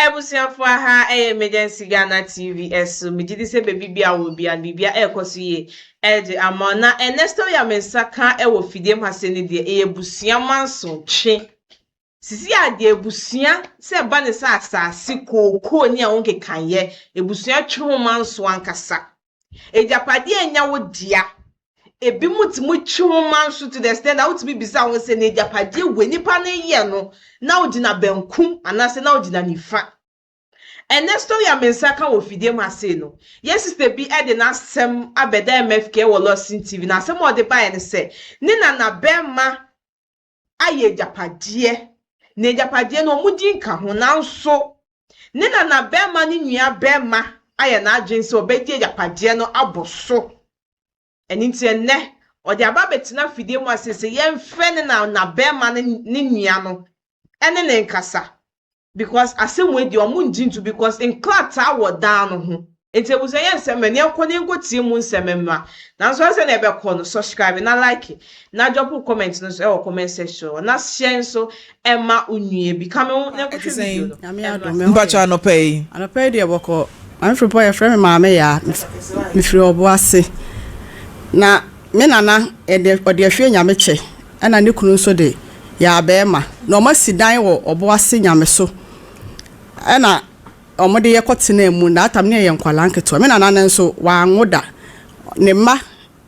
Abusuafo aha ɛyɛ Emergency Ghana TV ɛso megye di sɛ baabi biara ɔwɔ biara no biribiara ɛɛkɔ so yie ɛde ama wo na ɛnɛ story ya me nsa ka ɛwɔ fidiem ha sɛ ne deɛ ɛyɛ abusua manso twe sisi a deɛ abusua sɛ ɛba ne sɛ asaase kookoo ne a wo nkekayɛ abusua twe ho manso ankasa Agyapadeɛ nyɛ wo dea. Ebinom tumi twe wo ma nso to the extent that wotumi bisa wɔn sɛ, na agyapadeɛ wei nipa no yɛ no, na wogyina benkum anaasɛ na wogyina nifa. Ɛnɛ story a me nsa ka wɔ fidiem ha sei no, yɛn sista bi de n'asɛm abɛda MFK wɔ Lordson TV, na asɛm a ɔde baeɛ ne sɛ, ne nanabarima ayɛ agyapadeɛ, na agyapadeɛ no wɔn din ka ho, nanso ne nana barima ne nua barima ayɛ n'adwene sɛ ɔbɛgye agyapadeɛ no abɔ so. Ɛno nti ɛnnɛ ɔde aba abɛtena fidie mu a seesei yɛmfrɛ ne nana barima ne nua no ne ne nkasa. because asɛm wei deɛ ɔmo ngye ntu because nkrataa wɔ dan no ho nti abusua yɛ nsɛm mɛ neɛ nkɔ ne nkɔ tie mu nsɛm mma nanso ɛsɛ sɛ na ɛbɛkɔ no subscribe na like na drop wo comment no so ɛwɔ comment section hɔ na share nso ɛma onua bi kame ho na nkɔhwɛ video no Nyame ɛno adom, ase. me ho Mpakyɛ yɛ. anɔpa yi. Anɔpa yi deɛ bɔkɔ. Maame Frimpong yɛfrɛ me Maame Yaa. Mef- Mefiri Ɔboase. Na me nana ɛde ɔde ahwie nyame kyɛ Ɛna ne kunu nso de yɛ abɛɛma na wɔn asi dan wɔ ɔbo ase nyameso ɛna wɔn de yɛ kɔ tenaa mu that time ne yɛ yɛ nkwadaa nketewa me nana no nso wanwo da ne mma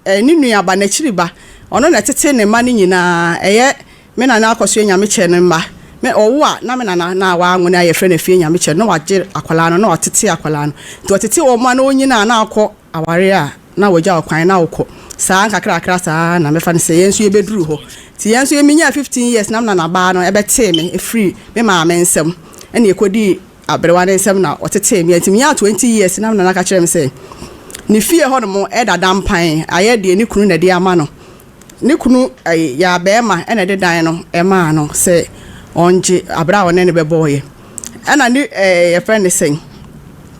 ɛɛ ne nua ba n'akyiri ba ɔno na ɛtete ne mma no nyinaa ɛyɛ me nana akɔsoɛ nyamekyɛ no mma me ɔwo a na me nana na wanwo na yɛfrɛ no afie nyamekyɛ no na wagye akwadaa no na watete akwadaa no nti ɔtete wɔn mma na ɔnyinaa na akɔ aware a na wagya wo kwan na wokɔ saa nkakrakra saa na mɛfa no sɛ yɛn nso yɛbɛduru hɔ nti yɛn nso menyaa 15 years na mena nabaa no ɛbɛtee me ɛfiri me maame nsɛm ɛne ɛkɔdii aberewa no nsɛm na ɔtetee me nti menyaa 20 years na mena no aka kyerɛ me sɛ ne fie hɔ nom ɛdada mpan ayɛ deɛ ne kunu na ɛde ama no Ne kunu yɛ abɛɛma na ɛde dan no maa no sɛ ɔngye aberɛ a ɔne no bɛbɔeɛ. Ɛna ne yɛfrɛ ne sɛn,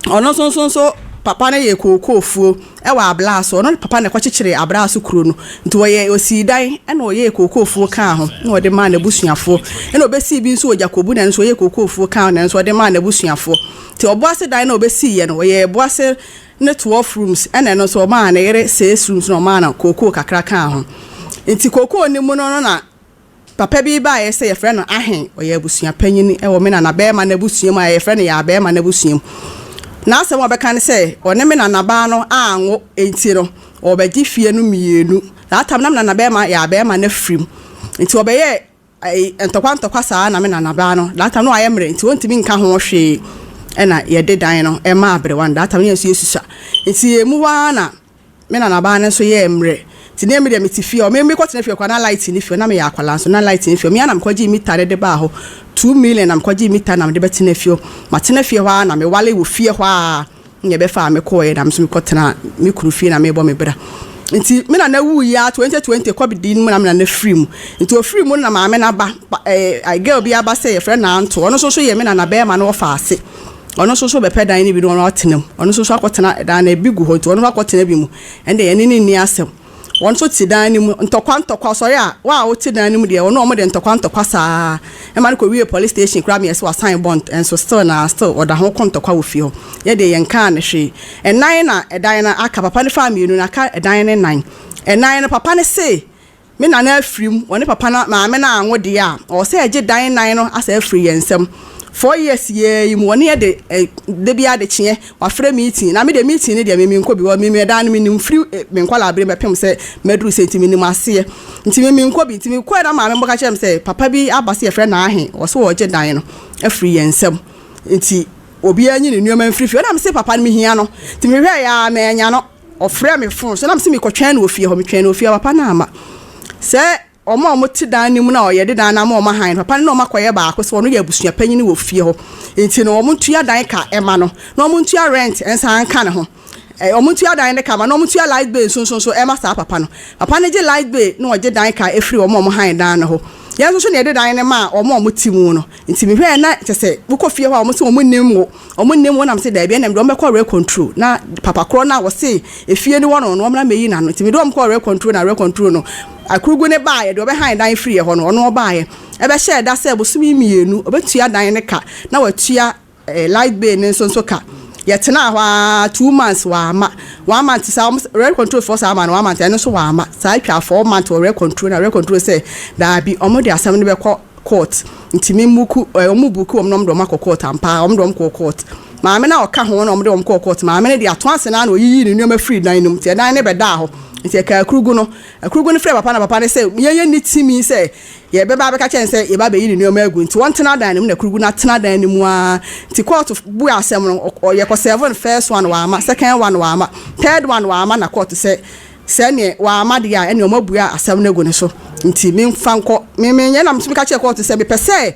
ɔno nso nso nso papa no yɛ kookoofuo wɔ abraa so. Ɔno ne papa na ɛkɔkyekyere abraa so kuro no. Nti ɔyɛ ɔsii dan ɛna ɔyɛɛ kookoofuo kaa ho na ɔde maa n'abusuafoɔ. Ɛna ɔbɛsii bi nso wɔ Gyakobu na ɛno nso ɔyɛɛ kookoofuo kaa ho na ɛno nso ɔde maa n'abusuafoɔ. Nti ɔboase dan no a ɔbɛsiiɛ no ɔyɛɛ boase ne twelve rooms na ɛno nso ɔmaa ne yere six rooms na ɔmaa no kookoo kakra kaa ho. Nti kookoo no mu no no na papa bi baeɛ sɛ yɛfrɛ no Ahen, ɔyɛ abusua panyin wɔ me nana barima no abusua mu a yɛfrɛ no Yaa barima no abusua mu. N'asɛm a ɔbɛka ne sɛ ɔne me nana baa no anwo nti no ɔbɛgye fie no mmienu. That time na me nana barima Yaa barima no afirim nti ɔbɛyɛɛ Ntɔkwa ntɔkwa saa na me nanabaa no that time na wayɛ mmerɛ nti ɔntumi nka ho hwee ɛna yɛde dan no ɛmaa aberewa no that time na yɛn nso yɛsusua nti yɛn mu hɔ ara na me nanabaa no nso yɛɛ mmerɛ nti ne me deɛ mete fie hɔ me mekɔ tena fie koraa na light ne fie hɔ na meyɛ akwadaa nso na light ne fie hɔ mea na mekɔgye mita de de baa hɔ two million na mekɔgye mita na mede bɛtena fie hɔ matena fie hɔ ara na mewale wɔ fie hɔ ara na ɛbɛfaa me kɔeɛ na me nso mekɔtenaa me kunu fie na merebɔ me bra. Nti me nana wuiɛ a 2020 covid no mu na me nana firi mu. Nti ɔfiri mu no na maame no aba pa- ɛɛ eh, girl bi aba sɛ yɛfrɛ no Anto. Ɔno nso so yɛ me nana bɛrima no ɔfa ase. Ɔno nso so bɛpɛ dan no bi na ɔno atena mu. Ɔno nso so akɔtena dan no ebi gu hɔ nti ɔno nso akɔtena bi mu. Ɛnde yɛne no nni asɛm. wɔn nso te dan no mu ntɔkwa ntɔkwa ɔsɔre a wo a wote dan no mu deɛ ɔno a wɔde ntɔkwa ntɔkwa saa ɛma no kɔwie police station koraa meyɛ sɛ wasan bond ɛnso still na still ɔda ho ko ntɔkwa wɔ fie hɔ yɛ deɛ yɛn kaa no hwee ɛnan na ɛdan no aka papa no faa mmienu na aka ɛdan no nan ɛnan no papa no se me nana afirim wɔne papa no maame no anwo deɛ a ɔwɔ sɛ ɛgye dan nan no asɛ afiri yɛn nsam four years yɛ yi mu wɔne yɛ de da bi adekyeɛ Wafrɛ meeting na me deɛ meeting no deɛ me menkɔ bi because me me ɛdan no me nim firi me nkwadaa berem bɛpem sɛ maduru sei nti me nim aseɛ nti me menkɔ bi nti me kɔɛ na maame bɛka kyerɛ me sɛ papa bi aba sɛ yɛfrɛ no Ahe ɔse ɔregye dan no afiri yɛn nsam nti obiara nyi ne nneɛma mfiri fie na me se papa no me hia no nti me hwɛ yɛ a manya no ɔfrɛ me phone so na me se mekɔtwɛn no wɔ fie hɔ metwɛn no wɔ fie hɔ papa no amma sɛ Wɔn a wɔte dan no mu no a wɔde dan no ama wɔn hann no, papa no ne wɔn akɔyɛ baako sɛ ɔno yɛ abusuapanyin wɔ fie hɔ, enti no wɔntua dan ka mma no, na wɔntua rent nsan nka ne ho. Ɛ, wɔntua dan no ka mma no, na wɔntua light bill nso nso nso mma saa papa no. Papa no gye light bill na ɔgye dan ka firi wɔn a wɔhann dan no hɔ. Yɛn nso so na yɛde dan no ma wɔn a wɔte mu no. Nti me hwɛɛ na kyɛ sɛ wo kɔ fie hɔ a wɔn se wɔn nnim wo wɔn nnim wo na me se daabi ɛna me de wɔn bɛkɔ rɛ kɔntro na papa korɔ no a wɔse efie no wɔ no no wɔn na me yi n'ano nti me de wɔn kɔɔ rɛ kɔntro na rɛ kɔntro no akurugu ne baayɛ deɛ ɔbɛhan dan firi yɛ hɔ no ɔno ɔbaayɛ ɛbɛhyɛɛ da sɛ bosome mmienu ɔbɛtua dan ne ka na watua Light Bay no nso nso ka. Yɛtenaa hɔ ara two months wɔamma. One month saa wɔn rent control foɔ saa ma no one month ɛno nso wɔamma. Saa atwa four month wɔ rent control na rent control sɛ daabi wɔn de asɛm no bɛkɔ court nti me mmuku ɛɛ wɔn mmuku wɔn na wɔn de wɔn akɔ court ampa ara wɔn de wɔn kɔɔ court. Maame no a ɔka ho na wɔn de wɔn kɔɔ court maame no deɛ ato ase naa na ɔyiyii ne nneɛma firi dan no mu nti ɛdan no bɛdaa hɔ nti ɛkaa akurugu no akurugu no frɛɛ papa na papa no sɛ yɛn yɛnni tumi sɛ Yɛbɛba abɛka akyerɛ no sɛ yɛba abɛyi ne nneɛma agu nti ɔntena dan no mu na Krugu no atena dan no mu ara. Nti kɔɔto buee asɛm no, ɔ yɛkɔ sɛɛvo no first one wamma, second one wamma, third one wamma na kɔɔto sɛ sɛ neɛ wamma deɛ a ɛneɛ wɔabue asɛm no agu ne so nti memfa nkɔ. Me menyɛ na metumi ka kyerɛɛ kɔɔto sɛ mepɛ sɛ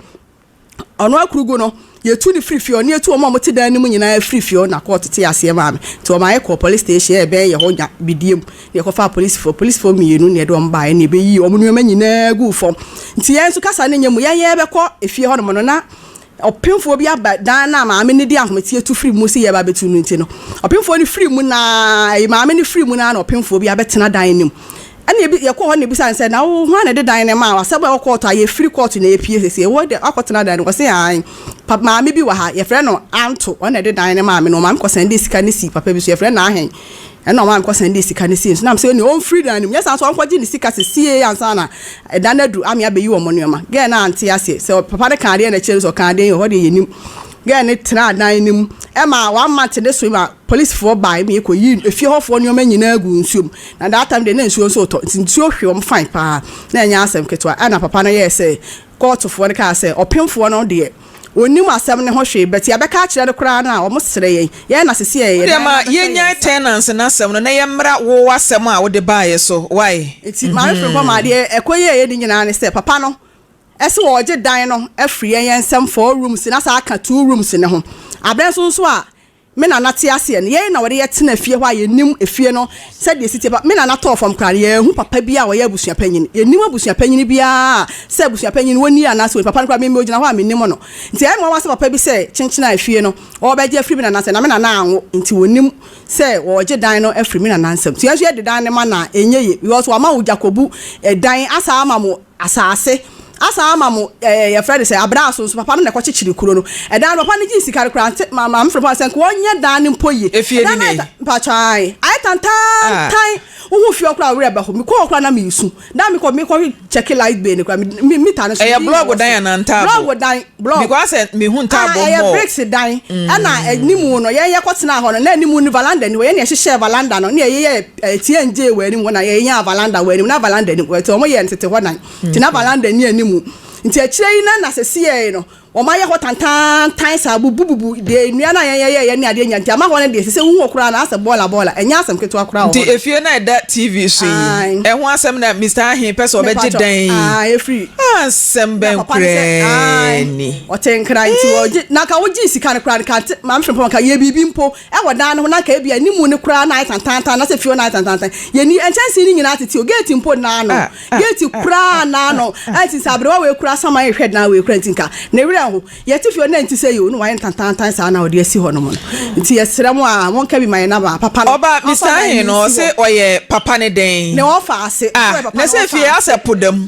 Ɔno akurugu no, yɛtu no firi fie hɔ na yɛtu wɔn a wɔte dan no mu nyinaa firi fie hɔ na kɔɔ tete aseɛ maa me. Nti wɔmaa yɛkɔɔ police station a ɛbɛn yɛ hɔ nya bidie mu na yɛkɔfaa polisifoɔ. Polisifoɔ mmienu na yɛde wɔn baeɛ na yɛbɛyii wɔn nneɛma nyinaa guu fam. Nti yɛn nso kasa no nyɛ mu. Yɛn yɛrebɛkɔ efie hɔnom no, na ɔpemfoɔ bi aba dan no a maame no de ahometeɛ tu firi mu sɛ yɛreba abɛtu no nti no, ɔpemfoɔ no firi mu na maame no firi mu na na ɔpemfoɔ bi abɛtena dan no mu. Ɛna ebi yɛkɔɔ hɔ na ebisaa no sɛ, na wo hwan na ɛde dan no maa wo? Asɛm a ɛwɔ kɔɔto ha, yɛfiri kɔɔto na yɛpue seesei. Wo deɛ, woakɔtena dan no mu? Ɔse, Aane. Pa, maame bi wɔ ha, yɛfrɛ no Anto, ɔno na ɛde dan no maa me, na ɔmaa me kɔsɛndee sika no sii papa bi so, yɛfrɛ no Ahen, ɛna ɔmaa me kɔsɛndee sika no sii no so. Na mese, Onii, ɔmfiri dan no mu, nyɛ saa nso ɔnkɔgye ne sika sesiei ansa na ɛda no aduru, ame abɛyi wɔn nnoɔma. Gɛɛ no ante aseɛ, sɛ papa no kaa adeɛ na ɛkyerɛ no sɛ ɔkaa dɛn o, hɔ deɛ yɛnnim. Gɛɛ no tenaa dan no mu ma one month ne so na policefoɔ bae ma yɛkɔyii efie hɔfoɔ nnoɔma nyinaa guu nsuo mu. Na that time deɛ na nsuo nso retɔ nti nsuo hwe wɔn fine paa na ɛnyɛ asɛm ketewa. Ɛna papa no yɛɛ sɛ kɔɔtofoɔ no kaa sɛ ɔpemfoɔ no deɛ ɔnnim asɛm no ho hwee but yɛbɛka akyerɛ no koraa no a wɔsrɛ yɛn. Yɛn na seesei ɛyɛ yɛn dan no ara bɛhyɛ yɛn nsa. Wodeɛ ma yɛn tenants no asɛm no na yɛmmra wo w'asɛm a wode baeɛ so wai. Nti maame Frimpong maa deɛ ɛkɔyɛeɛ no nyinaa ne sɛ papa no se wɔregye dan no afiri yɛn yɛn nsam four rooms na asan aka two rooms no ho. Aberɛ nso nso a me nana te aseɛ no, yei na wɔde yɛ tena fie hɔ a yɛnim efie no sɛdeɛ ɛsi teɛ pa. Me nana tɔɔ fam koraa no, yɛanhu papa biara a ɔyɛ abusua panyin. Yɛnnim abusua panyin biara a sɛ abusua panyin wɔnni anaa sɛ wɔnni. Papa no koraa, me me ɔgyina hɔ a mennim no. Nti ɛyɛ me nwanwa sɛ papa bi sɛ kyenkyen a efie no wɔrebɛgye afiri me nana nsam. Na me nana anwo nti ɔnnim sɛ wɔregye dan no afiri me nana nsam. Nti yɛn nso yɛde dan no ma no a ɛnyɛ yie because wɔama wo Gyakobu dan asan ama mo Asaase. Asan ama mo ɛɛ yɛfrɛ no sɛ abraaso nso, papa no na ɛkɔkyekyere kuro no. Ɛdan no papa no gyee sika no koraa nte ma maame frɛ papa no sɛ nka ɔnyɛ dan no mpo yie. Efie bi na yi. Mpakyɛw ae. Ayɛ tantaantan. Ah. Wohu fie hɔ koraa a wo werɛ bɛho. Mekɔ hɔ koraa na meresu. Da a mekɔ mekɔ kyɛke light bill no koraa me meter no so. Ɛyɛ blɔɔgo dan anaa ntaaboo? Blɔɔgo dan. Blɔk. Because sɛ mehu ntaaboo mu. Ah, ɛyɛ bricks dan. Ɛna mm. anim no yɛn yɛkɔ tenaa hɔ no na anim no valanda ni hɔ yɛn na yɛhyehyɛ valanda no na yɛyɛ ɛtiɛ ngye wɔ anim hɔ na yɛnya valanda wɔ anim na valanda ni hɔ ɛti wɔn yɛ ntete hɔ dan ti na valanda ni anim nti akyire yi na na sɛsi yɛ no wɔn ayɛ hɔ tantantan saa bubububu deɛ nnua na yɛn yɛyɛ yɛn ne adeɛ nya nti ama hɔ no deɛ sɛ wohu wɔ koraa na asɛ bɔɔla bɔɔla ɛnyɛ asɛm ketewa koraa wɔ hɔ nti efie na ɛda tv so yi ɛho asɛm na mr ahe pɛ sɛ ɔbɛgye dan yi efiri Asɛm bɛn koraa ni? Ɔte nkra nti ɔgye na nka wogye sika no koraa nka maame hwɛ mpo nka yɛ biribi mpo ɛwɔ dan no ho na nka ebi ani mu no koraa na ayɛ tantantan na sɛ fie na ayɛ tantantan yɛni nkyɛnse no nyinaa tete o gate mpo naa no gate koraa naa no ɛnti sɛ aberewa wei koraa saman ehwɛ dan wei koraa nti nka ne werɛ ho Yɛte fie o, na ɛnte sɛ yi o, na wayɛ ntantaantan saa na ɔde asi hɔnom no. Nti yɛsrɛ mo aa, monka bi ma yɛn na baa papa no. Ɔba bisa he no, ɔse ɔyɛ papa no dɛn? Ne ɔfa ase. Ah, na sɛ fie he asɛ po da mu.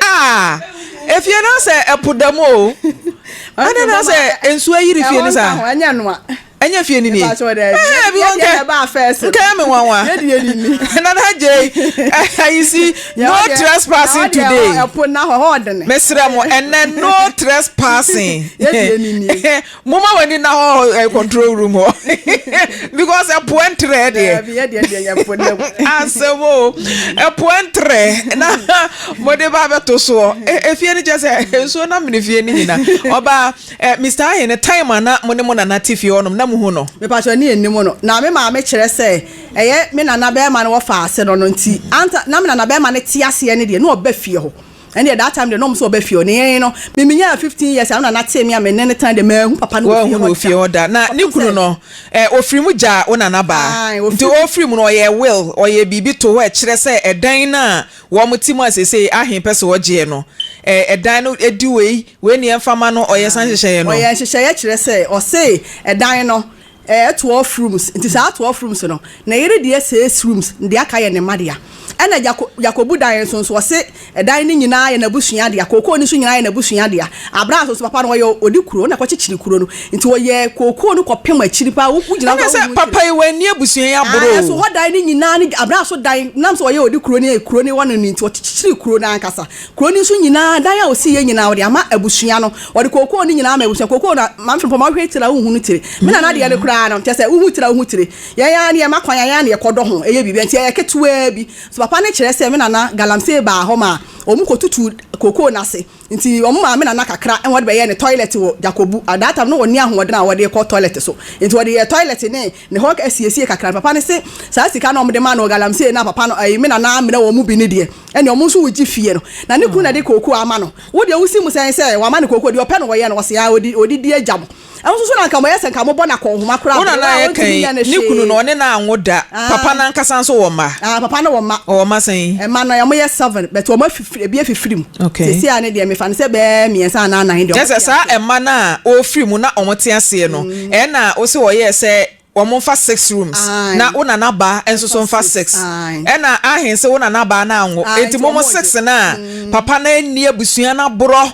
Ah, efie no asɛ po da mu o. Adɛn na asɛ nsuo ayiri fie no saa? Ɛhɔ nka ho, ɛnyɛ noa. Ɛnyɛ fie ni nie. Ɛpakyɛw dɛ. Ɛɛ bi wɔn kɛ. Yɛde ɛbaa fɛs. Nkɛ mi nwanwa. Yɛde yɛ ni ni. Nana Jay. Ayi si no trespassing today. Ɛpo na hɔ hɔ ɔdene. Mesrɛ mo ɛnɛ no trespassing. Yɛde yɛ ni ni. Mo ma wani na hɔ control room hɔ. Because ɛpo ɛntrɛ deɛ. Ɛbi yɛ deɛ deɛ yɛ po na mu. Asɛm o. Ɛpo ɛntrɛ na mo de ba bɛ to soɔ. Efie ni kyɛ sɛ nsuo na mene fie ni nyina. Ɔbaa. Eh Mister Ahe no time a na mo ne mo nana te fie hɔ nom na mo hu no? Me pakyɛ ɔne yɛn nnim no na me maame kyerɛ sɛ ɛyɛ me nana bɛɛma no wɔ fa ase no no nti anta na me nana bɛɛma no te aseɛ no deɛ na ɔba fie hɔ ɛndeɛ that time deɛ na ɔmo sɛ ɔba fie hɔ ne yɛn no me me nyaa 15 years a me nana tee me a me ne no tena deɛ maahu papa no wɔ fie hɔ da fie hɔ da na ne kunu no eh ɔfiri mu gyaa wo nana baa nti ɔfiri mu no ɔyɛɛ will ɔyɛɛ biribi to hɔ ɛkyerɛ sɛ ɛdan no a wɔn te mu a sesei Ahe pɛ sɛ ɔgyeɛ no eh ɛdan no ɛdi wei Wei ne yɛmfa ma no ɔyɛ saa nhyehyɛeɛ no. Ɔyɛ nhyehyɛeɛ kyerɛ sɛ ɔsee ɛdan no ɛyɛ twelve rooms nti saa twelve rooms no ne yere deɛ six rooms na deɛ aka yɛ ne mma dea ɛna gyako gyakobu dan nso nso ɔse ɛdan no nyinaa yɛ n'abusua dea kookoo no nso nyinaa yɛ n'abusua dea abira nso nso papa no ɔyɛ ɔdi kuro na ɛkɔkyekyere kuro no nti ɔyɛ kookoo no kɔpem akyiri paa wo gyina ɛna sɛ papa yi w'ani abusua yi aboro o so hɔ dan no nyinaa ne abira so dan nam sɛ ɔyɛ ɔdi kuro ne kuro ne hɔ no ne nti ɔkyekyere kuro no ankasa. Kuro no nso nyinaa, dan a ɔsiiɛ nyinaa, ɔde ama abusua no. Ɔde kookoo no nyinaa ama abusua no. Kookoo no, Maame Frimpong, ma wohwɛ tire a wonhunu tire. Me nana deɛ no koraa no, kyerɛ sɛ, wohu tire a wohu tire. Yɛn ara no, yɛma kwan a, yɛn ara na yɛkɔdɔ ho yɛ biribi. Ɛnti ɛyɛ ketewaa bi. So papa no kyerɛ sɛ me nana Galamsey baa hɔ maa wɔkɔtutuu kookoo no ase. Nti wɔmaa me nana kakra ma ɔde bɛyɛɛ ne toilet wɔ Dzakobu. At that time, na ɔnni ahoɔden a ɔde rekɔ toilet so. Nti ɔde yɛɛ toilet ne. Ne hɔ asiesie kakra no papa no se saa sika na ɔmo de maa no wɔ galamsey na papa no ɛyi me nana amena wɔn mu bi ne deɛ ɛne ɔmo nso wogye fie no na ne kunu na ɛde kookoo ama no wo deɛ wosi mu sɛn sɛ wama no kookoo deɛ ɔpɛ no wɔyɛ no wɔse aa odi odi di agya mo ɛho nso so na nka mo yɛ sɛ nka mo bɔ no akɔnhoma koraa Wo bere nana a a yɛka ɔntumi yi, nyɛ no ne kunu no hwee ɔne no anwo da. Papa no ankasa nso wɔ mma? aa papa no wɔ mma Ɔwɔ mma sɛn? mma no ɔmo yɛ seven but ɔmo afi Ebi afi firi mu. Seesei ara no deɛ, mefa no sɛ bɛyɛ mmiɛnsa anaa nnan deɛ wɔte aseɛ. Kyerɛ sɛ saa mma no a wɔfiri mu na wɔte aseɛ no, ɛnna wose wɔyɛɛ sɛ wɔmfa six rooms, na wo nanabaa nso so mfa six. Ɛnna ahe se wo nanabaa no anwo, enti momo six no a papa no anni abusua no aborɔ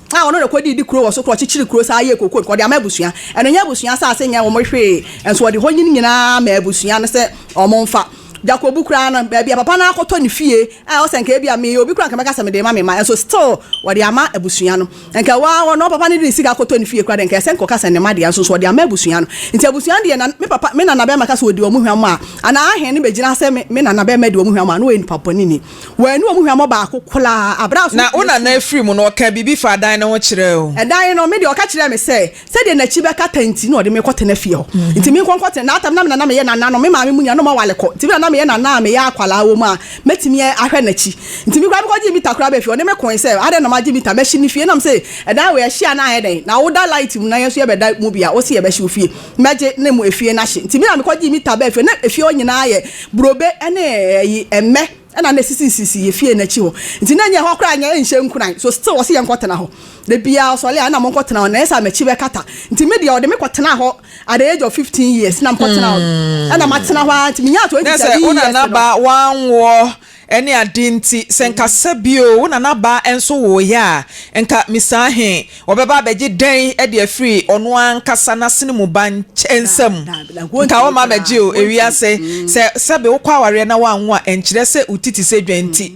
a ɔno na ɔkɔdii de kuro wɔ so kora ɔkyekyere kuro saa yɛɛ kookoo ɔde ama abusua ɛno nyɛ abusua asase nyɛ wɔn hwee nso ɔde hɔ nyini nyinaa ma abusua no sɛ wɔn mfa Jacobu koraa no baabi a papa no akɔtɔ ne fie a ɔsɛ nka ebi a meyɛ obi koraa nka mɛka sɛ mede ma me ma nso still wɔde ama abusua no nka waa wɔn papa no de sika akɔtɔ ne fie koraa de nka ɛsɛ nka ɔka sɛ ne ma deɛ nso nso ɔde ama abusua no nti abusua no deɛ na me papa me nana bɛrima ka sɛ ɔdi wɔn hwam a anaa ahen no bɛgyina sɛ me nana bɛrima di wɔn hwam a na ɔyɛ nipa bɔne ni Wɔannu wɔn hwammɔ baako koraa bere a ɔsomafo no sui. Na wo nana afiri mu no, ɔkaa biribi faa dan no ho kyerɛɛ wo? Ɛdan no, me deɛ ɔka kyerɛɛ me sɛ, sɛdeɛ n'akyi bɛkata nti na ɔde me rekɔtena fie hɔ. Nti menkɔ nkɔtena. Na atam na me na na meyɛ nana no, me maame mu nua, na ɔma wale kɔ. Nti me na na meyɛ nana a meyɛ akwadaa wom a mɛtumi ahwɛ n'akyi. Nti me koraa mekɔgyee mita koraa bɛɛ fie. Ɔne me koe sɛ, adɛn na magye mita? Mɛhye ne fie. Nam se, ɛdan wei ɛhye a na ayɛ dɛn? Na woda light mu na yɛn nso yɛbɛda mu bi a, wose yɛbɛhye wo fie? mɛgye ne mo efie no ahye. Nti me na mekɔgyee me tabaa fie no. Na efie hɔ nyinaa yɛ burobe ne ayi, mmɛ na na esisisisi yɛn fie no akyi hɔ. Nti na ɛnyɛ hɔ koraa nyɛ nhyɛ nkuran. So still ɔse yɛnkɔtena hɔ. Da biara ɔsɔre a na monkɔtena hɔ na ɛyɛ sɛ am'akyi bɛkata. Nti me deɛ ɔde me kɔtenaa hɔ at the age of fifteen years na mekɔtenaa hɔ. Ɛna matena hɔ ara nti menyaa twenty seven years no. Nɛsɛ wo nana ba wanwoɔ Ɛne ade nti, sɛ nka sɛbio wo nanabaa nso woeɛ a, nka misaa he, wɔbɛba abɛgye dɛn de afiri ɔno ankasa n'asene mu ba nsam? Nka wɔmma abɛgye o. Ewiase, sɛ sɛbe wokɔ awareɛ na woanwo a, ɛnkyerɛ sɛ wo ti te sɛ dwa nti.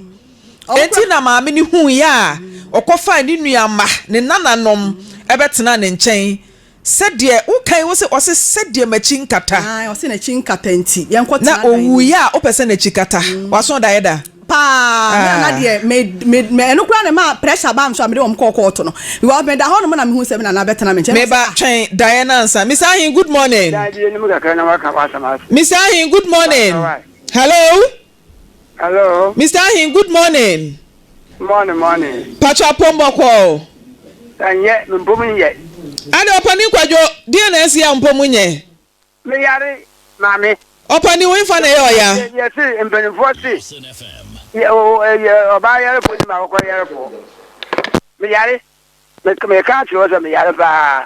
Enti na maame no huiɛ a, ɔkɔfaa ne nuamma, ne nananom, bɛtenaa ne nkyɛn Sɛdeɛ, wokan wo se, ɔse, sɛdeɛ m'akyi nkata. Aane, ɔse n'akyi nkata nti, yɛnkɔ tena adan no mu. Na ɔwuiɛ a, wopɛ sɛ n'akyi kata? W'aso daeɛ da? Paa, me a na deɛ me, me, me, ɛno koraa na ɛmaa pressure baa me so a mede wɔn kɔɔ kɔɔto no. Because meda hɔ nom na mehu sɛ me nana bɛtena me nkyɛn. Meba, na ɔse, ah. Twɛn daeɛ no ansa. Miss Ahen, good morning. Dabi, yɛnim kakra na woaka w'asɛm ase. Miss Ahen, good morning. Hello. Hello. Mister Ahin good morning. Morning morning. Patsɔ apom bɔkɔɔ. Ɛnyɛ me mpom nyɛ. Ada ɔpanin kwadwo deɛ na ɛsi a mpom nyɛ. Me yare maame. Ɔpanin wo nfa na ɛyɛ ɔya. Yɛ se mpanimfoɔ se yɛ ɔbaa yarefoɔ ni ma akɔkora yarefoɔ. Me yare. Me me ka akyerɛ wo sɛ me yare paa.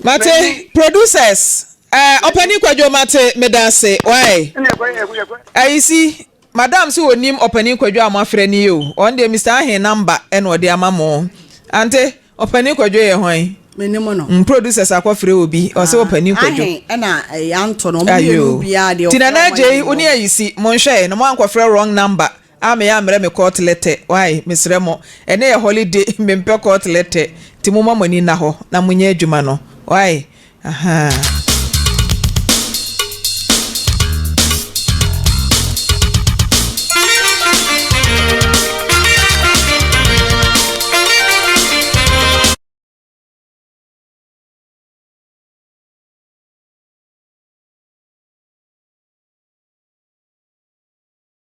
Mate producers eh ɔpanin kwadwo mate meda ase wai Ɛna ɛkɔ yɛ ɛkɔ yɛ. ayisi madam se onim ɔpanin kwadwo a moafrɛ no yi o ɔno deɛ Mister Ahen number ɛna ɔde ama mo ante ɔpanin kwadwo yɛ hwan Menim no. mm producers akɔ frɛ obi ɔse ɔpanin kwadwo Ahen ɛna ɛyɛ anto no. Ɔmo ayoo mmienu biaa deɛ ti ɔfrɛ Nana Agyei wo ne ayisi monhwɛɛ na moankɔfrɛ wrong number Ah me ammrɛ me court letter wai mesrɛ mo ɛnɛ yɛ holiday mempɛ court letter nti momma mo ani nna hɔ na monyɛ adwuma no wai ahaa.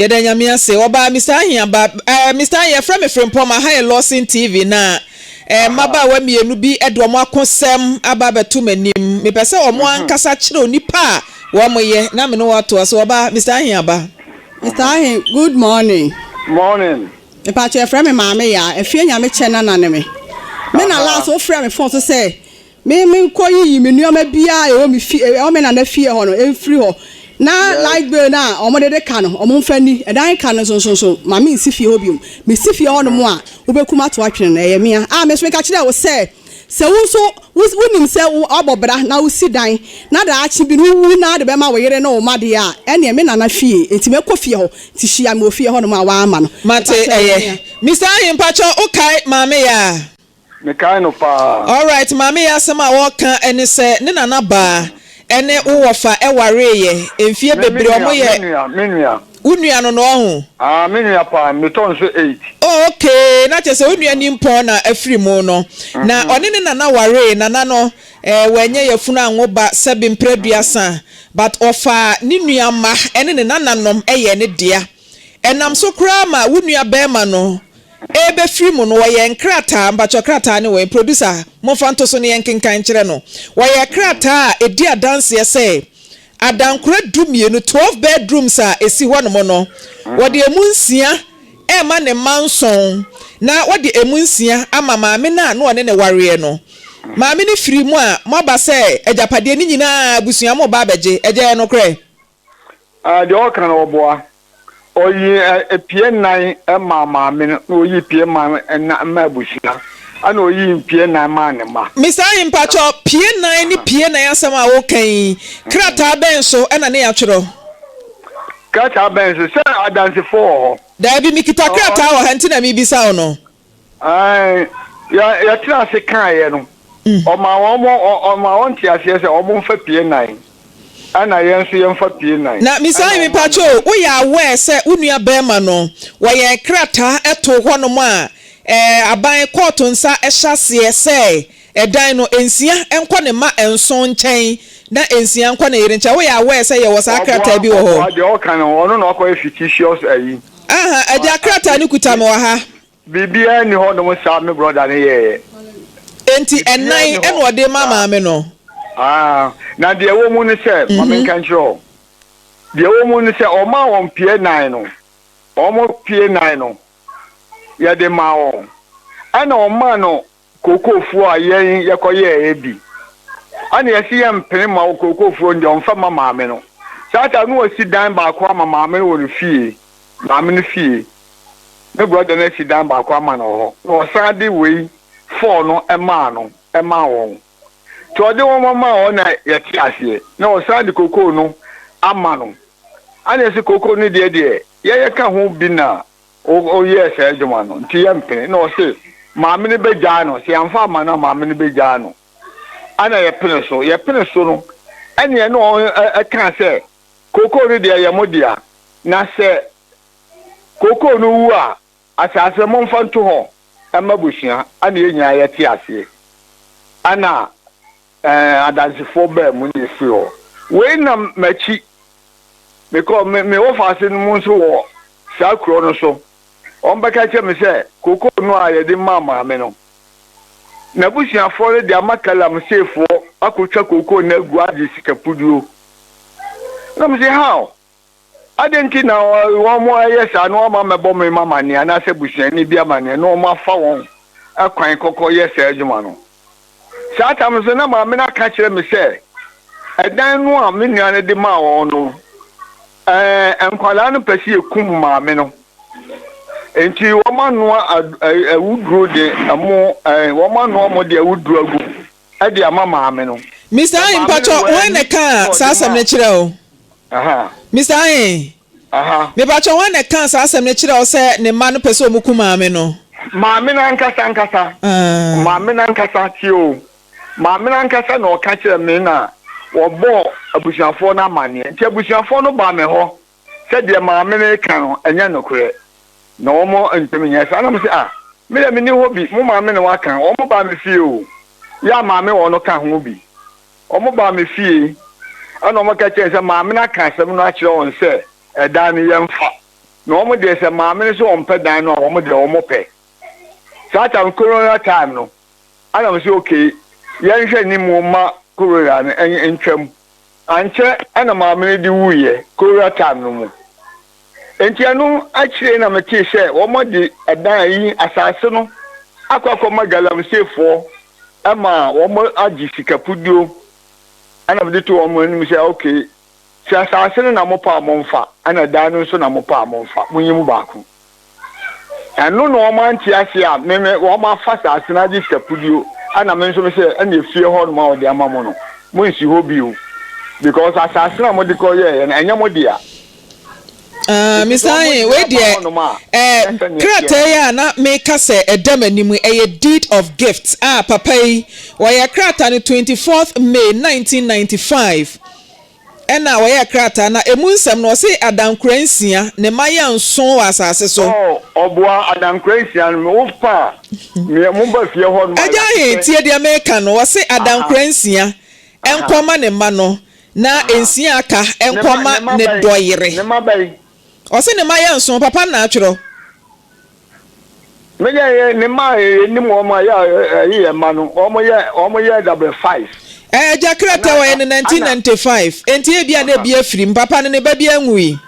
Yɛda Nyame ase. Ɔbaa Mister Ahia ba. Eh, Mister Ahia, yɛfrɛ me Frimpong, ma ha yɛ Lawson TV na eh, mmabaawa mmienu bi de wɔn akosɛm aba abɛto m'anim. Mepɛ sɛ wɔn ankasa kyerɛ onipa a Wɔmo yɛ na me ne wo atoa so. Ɔbaa, Mister Ahe aba. Mister Ahe, Good morning. Morning. Mepakyɛ yɛ frɛ me maame yaa, ɛfeɛ nyame kyɛ nana ne me. Me na last wo frɛ me fon so sɛ me me nkɔ yiyi me nnoɔma biaa ɛwɔ me fie ɛwɔ me nana fie hɔ no ɛnfiri hɔ na light bill no a ɔmo dede ka no ɔmo nfa ni ɛdan ka no nso nso nso ma me nsi fie hɔ biom me si fie hɔ nom a wo bɛku ma to atwene no ɛyɛ mea a me nso me ka kyerɛ wo sɛ Sɛ wo nso wunim sɛ woabɔ bra na wusi dan na daakye bi no wuwu na ade bɛma wo yere ne wo mma de a, ɛnneɛ me nana fie nti mɛkɔ fie hɔ nti hyia me wɔ fie hɔnom a woama no. Mate ɛyɛ. Mister Ahi mpakyɛw wo kae Maame Yaa? Me kae no paa. Alright Maame Yaa asɛm a ɔɔka ɛne sɛ ne nana baa ɛne wo wɔfa ɛwareeyɛ mfie bebree ɔmo yɛ. Me nua me nua me nua. Wo nua no no ɔho? Aah me nua paa metɔ nso eight. Oh ok na kyerɛ sɛ wo nua nimpɔn na afiri mu no na ɔne ne nana waree nana no eh wanyɛ yafunu anwo ba sɛbe mpra aduasa but ɔfaa ne nua mma ɛne ne nana nom ɛyɛɛ ne dea ɛnam so koraa ma wo nua bɛɛma no ɛɛbɛ firi mu no wɔyɛɛ nkrataa mpakyɛw krataa ne wɔ producer momfa nto so ne yɛnkenkan nkyerɛ no wɔyɛɛ krataa a ɛdi adanseɛ sɛ Adankora dumienu, twelve bedrooms, a ɛsi hɔnom no, wɔde ɛmu nsia rema ne mma nson, na wɔde ɛmu nsia ama maame no a na ɔne no wareɛ no. Maame no firi mu a, moaba sɛ agyapadeɛ no nyina ara abusua mo reba abɛgye. Ɛyɛ nokorɛ? Ah, deɛ ɔka no ɔboa. Ɔyii mpie nnan maa maame no, na ɔyii mpie man nnan maa abusua, ɛna ɔyii mpie nnan maa ne mma. Mister Ahi, mpakyɛw, pie nnan ne pie nnan asɛm a woka yi, krataa bɛn so na ne yɛatwerɛ? Krataa bɛn so? Sɛ Adansefo wɔ hɔ. Daabi, mekita krataa wɔ ha, nti na mebisa wo no. Aane, yɛtenaa ase kaeɛ no, ɔmaa wɔn, ɔmaa wɔn te aseɛ sɛ wɔn mfa pie nnan, ɛna yɛn nso yɛmfa pie nnan. Na mesan yi mepakyɛw o, woyɛ aware sɛ wo nua barima no, wɔyɛ krataa too hɔ nom a ɛɛ aban, kɔɔto nsa hyɛ aseɛ sɛ ɛdan no, nsia nkɔ ne mma nson nkyɛn na nsia nkɔ ne yere nkyɛn, woyɛ aware sɛ yɛwɔ saa krataa bi wɔ hɔ? Ɔboa, ɔboa, deɛ ɔka no, ɔno na wakɔyɛ fictitious ayi. Aha agya krataa no kuta me wɔ ha. Biribiara nni hɔ nom saa me brɔda no yɛeɛ. Enti ɛnan na ɔde ma maame no? Haa, na deɛ ɛwɔ mu ne sɛ, ma menka nkyerɛ wo, deɛ ɛwɔ mu ne sɛ ɔmaa wɔn pie nan no, wɔn pie nan no yɛde maa wɔn, ɛna ɔmaa no. Kookoofo a yɛn yɛkɔyɛɛ bi. Ana yɛse yɛmpene mma wo kookoofo no deɛ ɔmfa mma maame no. Saa ta no wasi dan baako ama maame no wɔ ne fie, maame no fie. Ne brɔda no asi dan baako ama no wɔ hɔ. Na ɔsan de wei four no maa no maa wɔn. Nti ɔde wɔn maa hɔ na yɛte aseɛ. Na ɔsan de kookoo no ama no. Ana yɛse kookoo no deɛ deɛ yɛyɛ ka ho bi na Ɔyɛɛ saa adwuma no nti yɛmpene. Ɛna ɔse maame no bɛgyaa no, sɛ yɛamfa amma no a maame no bɛgyaa no. Ɛna yɛpene so. Yɛpene so no, ɛneɛ na ɔkaa sɛ kookoo no deɛ ɛyɛ mo dea, na sɛ kookoo no wu a, asaase no momfa nto hɔ mma abusua. Ɛna yɛn nyinaa yɛte aseɛ. Ɛna Ɛɛ, Adansefoɔ baanu na ɛsi hɔ wei nam m'akyi. Mekɔ me me wɔfaase no mu nso wɔ saa kuro no so. Wɔbɛka kyerɛ me sɛ kokoo no a yɛde maa maame no, n'abusuafoɔ no de ama Galamseyfoɔ akɔtwa kokoo no agu agye sika puduo. Na mese how? Adɛn nti na wɔayɛ saa na wɔama mɛbɔ me mma amanneɛ anaasɛ busuani bi amanneɛ na wɔafa wɔn kwan kɔkɔyɛ saa adwuma no? Saa tam no nso, na maame no aka akyerɛ me sɛ ɛdan no a me nua no de maa wɔn no, ɛɛ, nkwadaa no pɛ sɛ yɛkum maame no. Enti wɔanoa awuduro de ɛmo, ɛɛ, wɔanoa mo de awuduro agu mu. de ama maame no. Mister Ayin, mpatsɔ hɔn na ɛkaa saa asɛm no kyerɛɛ wo? Mister Ayin, mepatsɔ hɔn na ɛkaa saa asɛm no kyerɛɛ wo sɛ ne mma no pɛ sɛ wɔku maame no? Maame no ankasa ankasa, maame no ankasa, tie o, maame no ankasa na ɔka kyerɛɛ me na wɔbɔɔ abusuafoɔ no amanneɛ, nti abusuafoɔ no baa me hɔ. Sɛdeɛ maame no reka no, ɛnyɛ nokorɛ. Na wɔn ntumi nyɛ saa. Na mese, Ah, me deɛ menni hɔ bi. Mo maame na waka. Wɔbaa me fie o. Yɛ a maame wɔ no ka ho bi. Wɔbaa me fie, ɛna wɔka kyerɛɛ sɛ maame no aka asɛm no akyerɛ wɔn sɛ ɛdan no yɛmfa. Na wɔn deɛ sɛ maame no sɛ ɔmpɛ dan no a, wɔn deɛ wɔpɛ. Saa time, Corona time no, ɛna mese, Okay, yɛnhwɛ anim mma Corona no ntwam. Ankyɛ na maame no de wuiɛ, cowura time no mu. Enti ɛno akyire na metee sɛ wɔde ɛdan a yi asaase no akɔ akɔma galamseyfoɔ ma wɔagye sikapuduo ɛna mede too wɔn anim sɛ ok sɛ asaase no na mopɛ a momfa ɛna dan no nso na mopɛ a momfa monyi mu baako. Ɛno na wɔn ante aseɛ a me me wɔn afa saa asena gye sikapudio ɛna me nso me sɛ ɛna efie hɔ nom a wɔde ama mo no mo nsi hɔ bio because asaase no a mo de kɔ yɛɛyɛ no ɛnyɛ mo dea. Ah me san yɛ wei deɛ ɛɛ krataa yi a na me ka sɛ ɛda m'anim ɛyɛ deed of gift a papa yi wɔyɛ krataa no twenty fourth May nineteen ninety five. Ɛnna wɔyɛɛ krataa na emu nsɛm no, wɔsee adankora nsia, ne mma yɛ nson wɔ asase so. Oh, ɔboa adankora nsia no, me, wofa a, meɛ, momba fie hɔ nom a, Agya he, yɛahwehwɛ. tie deɛ meeka no, wɔse Aha. adankora nsia Aha. nkɔ mma ne mma no, na Aha. nsia a aka, Ne nkɔ mma mma, ne ne mma bɛn? dɔyere. Ne mma bɛn? Ɔse ne mma yɛ nson, papa na atwerɛ. Me deɛ yɛ ne mma a yɛ nim wɔn a yɛ ɛyi yɛ mma no wɔn yɛ wɔn yɛ dabere five. Ɛɛ agya krataa wɔyɛ no nineteen ninety five enti ebia na ebi afirim papa no ne ba bi anwui.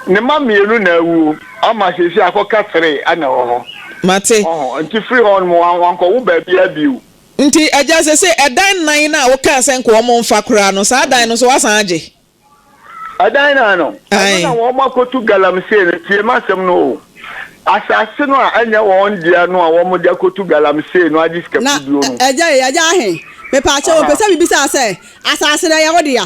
Ne mma mmienu na awuo ama seesei akɔka three ɛna ɛwɔ hɔ. Mate. Ɔho nti firi hɔ nom wɔn wɔn kɔ wo baabiara bio. Nti agya seesei ɛdan nan no a wokaa sɛ nka wɔn nfa koraa no saa dan no nso wasan agye. Ɛdan no ano. Ɛno na wɔakɔtu galamsey no. Tie m'asɛm no o. Asase no a ɛnyɛ wɔn dea no a wɔde akɔtu galamsey no agye sika kuduo no. Na agya ei, agya ahe? Mepaakyɛw o, pɛ sɛ mibisaa sɛ, asase no ɛyɛ wo dea?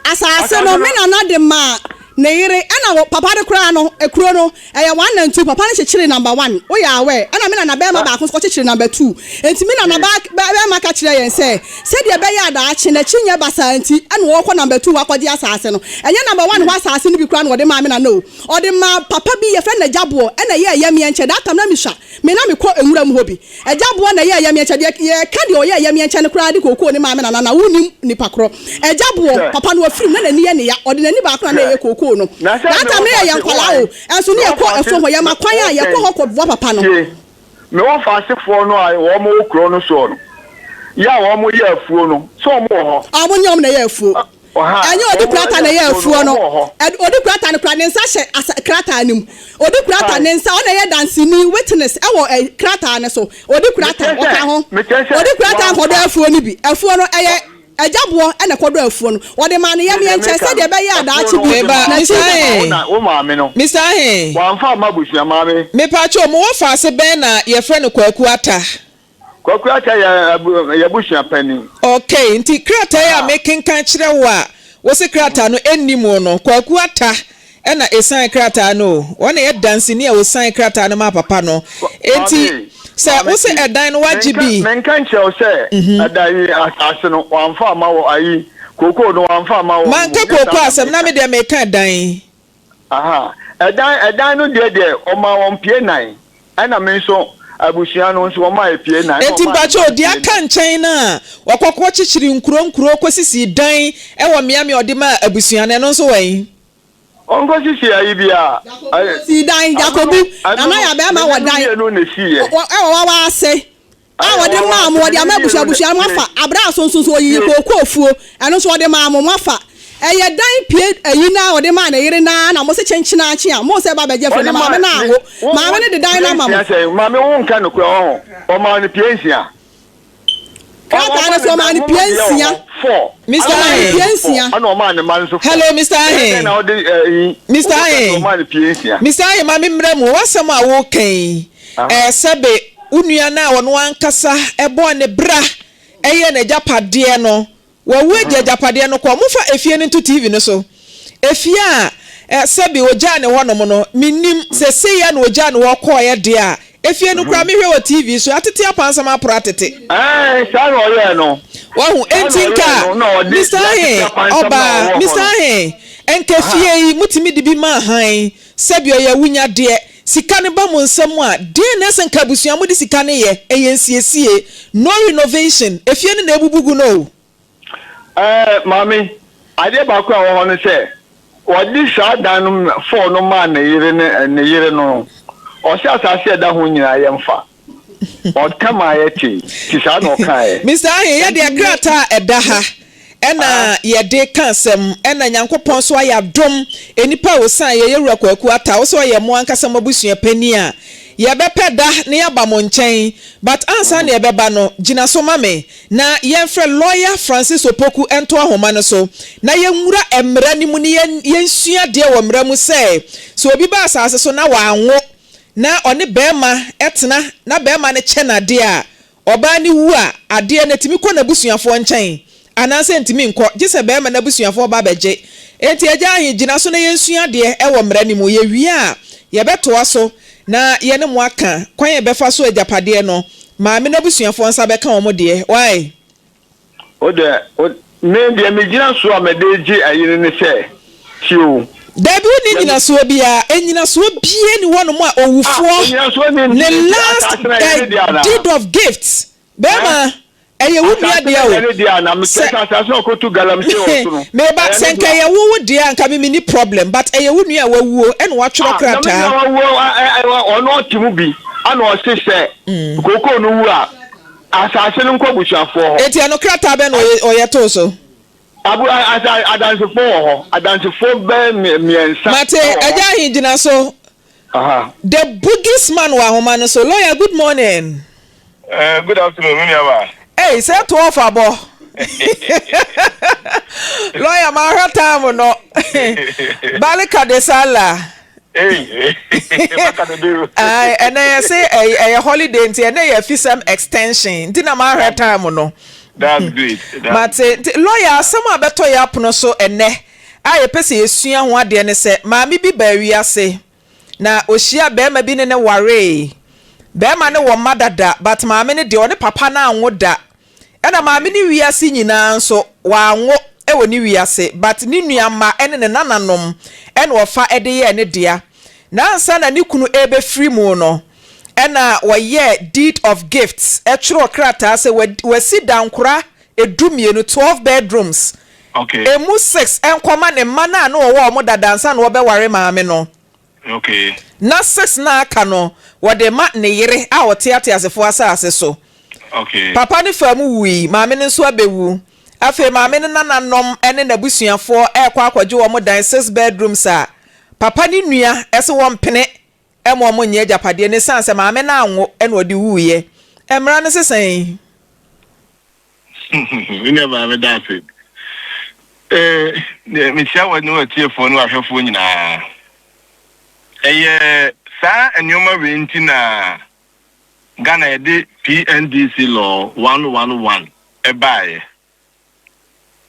Asase no, me nana de maa ne yere, ɛna papa no koraa no, kuro no, Ɛyɛ one and two, papa no kyekyeree number one, woyɛ aware, ɛna me nanabarima baako nso kɔkyekyeree number two. Enti me nanabarima ka kyerɛɛ yɛn sɛ, sɛdeɛ ɛbɛyɛ a daakye no akyi nyɛ basaa nti, ɛna wɔrekɔ number two hɔ akɔgye asaase no. Ɛnyɛ number one hɔ asaase no bi koraa na wɔde maa me nana o. Ɔde maa papa bi, yɛfrɛ no Nagyaboɔ, ɛna ɛyɛɛ yɛmmeɛ nkyɛn. That time na metwa me na mekɔ nwura mu hɔ bi. Agya boa na ɛyɛɛ yɛmeɛ kyɛ deɛ yɛka deɛ ɔyɛɛ yɛmeɛ kyɛ no koraa de kookoo ne maame nana na wonim nipa korɔ agya boɔ papa no afirim na nani yɛ neya ɔde nani baako na na ɛyɛ kookoo no that time no yɛ yɛ nkwalaa o ɛnso ne yɛ kɔ afuo hɔ yɛ ma kwan a yɛ kɔ hɔ kɔ boa papa no. Tie me wɔfa asefoɔ no a wɔn wɔ kuro no soɔ no yɛ a wɔn yɛ afuo no sɛ wɔn wɔ hɔ. Wɔn ne wɔn na ɛyɛ afuo. Ɛnyɛ ɔde krataa na ɛyɛ afuo no. Ɔde krataa no kura ne nsa hyɛ asa krataa no mu. Ɔde krataa ne nsa ɔna ɛyɛ danseni witness ɛwɔ ɛ krataa no so. Ɔde krataa ɔka ho. Ɔde krataa nkɔdɔ afuo no bi. Afuo no ɛyɛ ɛgya boɔ ɛna ɛkɔdɔ afuo no. Wɔde maa no yɛmeɛ nkyɛn sɛdeɛ ɛbɛyɛ a daakye bi n'akyi bɛba. Mister Aheh. Mister Aheh. Mepa kyɛw mo wɔ faase bɛn na yɛfrɛ no Kwaku Attah. Kɔkora ka yɛ yɛabusua panin. Okay, nti krataa yi a mekenkan kyerɛ wo a wose krataa no nni mu no, Kwaku Attah na esigned krataa no o. Ɔno na ɛyɛ danseni a osigned krataa no maa papa no. Enti sɛ wose ɛdan no wagye bi. Menka nkyerɛ wo sɛ ɛdan yi, asaase no, wamfa amma wo, ayi, kookoo no wamfa amma wo. Manka kookoo asɛm, na me deɛ meka ɛdan. Aha, ɛdan ɛdan no deɛ deɛ wɔmaa wɔn pie nan ɛna me nso abusua no nso wɔmaa yɛ pie nan ɛna Enti wɔmaa me mpakyɛw, nso deɛ pie aka nan. nkyɛn no a wɔkɔ kɔ kyekyere nkuro nkuro kɔ sisii dan wɔ mmea mmea ɔde maa abusua no ɛno nso wɔ he? Wɔnkɔ sisi ayi biara. Ɛ, Ɔsii dan, ɛno Gyakobu, no, na ɛno no, ɔyɛ abɛɛma ne wɔ nanu dan mmienu na ɛsiiɛ. wɔ ɛwɔ wawa ase. a wɔde maa mo, wɔde ama abusua abusua, moafa. Aberɛ a so nso nso ɔyiyii kookuofuo, ɛno nso wɔde maa mo, moafa. Ɛyɛ dan pie ayi no ara a wɔde maa ne yere no ara na mose kyenkyenaakye a mose ba bɛgye afiri no, maame no anwo. Maame no de dan no ama mo. Maame wo nka nokorɛ ɔho, ɔmaa no pie nsia. Krataa no so ɔmaa no pie nsia. Mister Ahe, hello Mister Ahe, Mister Ahe, Mister Ahe ma me mmrɛ mu, w'asɛm a woka yi Sɛbe wo nua no a ɔno ankasa bɔɔ ne bra yɛɛ n'agyapadeɛ no, wawu agye agyapadeɛ no kɔ. Momfa efie no nto TV no so. Efie a sɛbe ɔgyaa no hɔnom no, mennim, sɛ sei ara na ɔgyaa no hɔ kɔeɛ deɛ a, efie no koraa mehwɛ wɔ TV so, atete apansam aporo atete. Aane, saa na ɔyɛɛ no. Wahu? Enti nka me saa he, ɔbaa, me saa he, nka fie yi motumi de bi ma hann, sɛbe ɔyɛ awunyadeɛ, Sika no ba mo nsa mu a, deɛn na ɛsɛ nka abusua a mode sika no yɛ? Ɛyɛ nsiesie. No renovation. Efie no na abubu gu no o. Ɛɛ, Maame, adeɛ baako a ɛwɔ hɔ ne sɛ, wɔde saa dan no fɔɔ no maa ne yere ne ne yere no no, ɔse asase a ɛda ho nyinaa yɛmfa. Ɔtam a ayɛ tee, ti saa na ɔkaeɛ. Mister Ahe, yɛ deɛ krataa a ɛda ha ɛna yɛde ka asɛm ɛna Nyankopɔn nso ayɛ adom nnipa a wɔsiane yɛ, Yɛwura Kwaku Attah, wo sɛ ɔyɛ mo ankasa mo abusua panin a, yɛbɛpɛ da na yɛaba mo nkyɛn but ansa na yɛbɛba no, gyina so ma me na yɛmfrɛ Lawyer Francis Opoku nto ahoma no so na yɛnwura mmara no mu na yɛnsua adeɛ wɔ mmara mu sɛ, sɛ obi ba asase so na wanwo. na ɔne barima tena na barima no kyɛ no adeɛ a, ɔbaa no wu a, adeɛ no tumi kɔ n'abusuafoɔ nkyɛn anaasɛ ɛntumi nkɔ gye sɛ barima no abusuafoɔ ba bɛgye. Enti agya he, gyina so na yɛnsua adeɛ wɔ mmara no mu. Yɛwie a, yɛbɛtoa so na yɛne mo aka kwan a yɛbɛfa so agyapadeɛ no. Maame no abusuafoɔ nsa bɛka wɔn deɛ. Wai? Wo deɛ wo me deɛ me gyina soɔ a mɛde gye ayere ne sɛ tie o. Dabi wo nni nyinasoɔ biaa, anyinasoɔ biaa ni hɔ nom a owufoɔ ne last deed of gift bɛɛma ɛyɛ wo nua dea o, sɛ meba sɛ nka ɛyɛ wo wo dea nka me me nni problem but ɛyɛ wo nua a wawuo ɛna watwerɛ krataa. Ɔno ɔte mu bi ɛna ɔse sɛ kookoo no wu a. Asase no nkɔ busuafoɔ hɔ. Enti ɛno krataa bɛn na ɔyɛ too so? Abu, a, asa, adansefoɔ wɔ hɔ. Adansefoɔ bɛɛ me, mmiɛnsa wɔ hɔ. Mate, Agya Ahi, gyina so. Aha. The Bugis Man wɔ ahoma no so. Lawyer, good morning. Eh, good afternoon, me nua baa. Ei, sɛ to off abɔ. Lawyer, mahwɛ time no. Barika de Salah. Ae ɛnɛ yɛse ɛy- ɛyɛ holiday nti ɛnɛ yɛ afisɛm extension nti na mahwɛ time no That's great. That's mate nti lawyer asɛm a bɛtɔ yɛ apono so ɛnɛ a yɛpɛ sɛ yɛsua ho adeɛ ne sɛ maame bi baa wiase na ɔhyia bɛrima bi ne ne waree bɛrima ne wɔ mma dada but maame no deɛ ɔne papa no anwo da Ɛna maame no wiase nyinaa nso wanwo wɔ ne wiase but ne nua mma ne ne nananom na ɔfa de yɛɛ ne dea na ansa na ne kunu rebɛfiri mu no ɛna wɔyɛɛ deed of gifts twerɛɛ krataa sɛ wasi dankora du mmienu, twelve bedrooms, ɛmu six nkɔma ne mma no a na ɔwɔ wɔn dada ansa na ɔrebɛware maame no. Ná six no a aka no, wɔde ma ne yere a ɔte ateasefo asase so. Papa no faa mu wui, maame no nso abewu. Afei maame no nananom ne n'abusuafo rekɔ akɔgye wɔn dan six bedrooms a Papa ne nua se wɔmpene mma wɔnyɛ agyapadeɛ no esiane sɛ maame no anwo na ɔde wuiɛ. Mmara no se sɛn? Me nua baa meda ase eh, mekyia wɔ ne watiefoɔ ne wahwɛfoɔ nyinaa. Ɛyɛ saa nneɛma wei nti na Ghana yɛde PNDC law 111 ɛbaeɛ.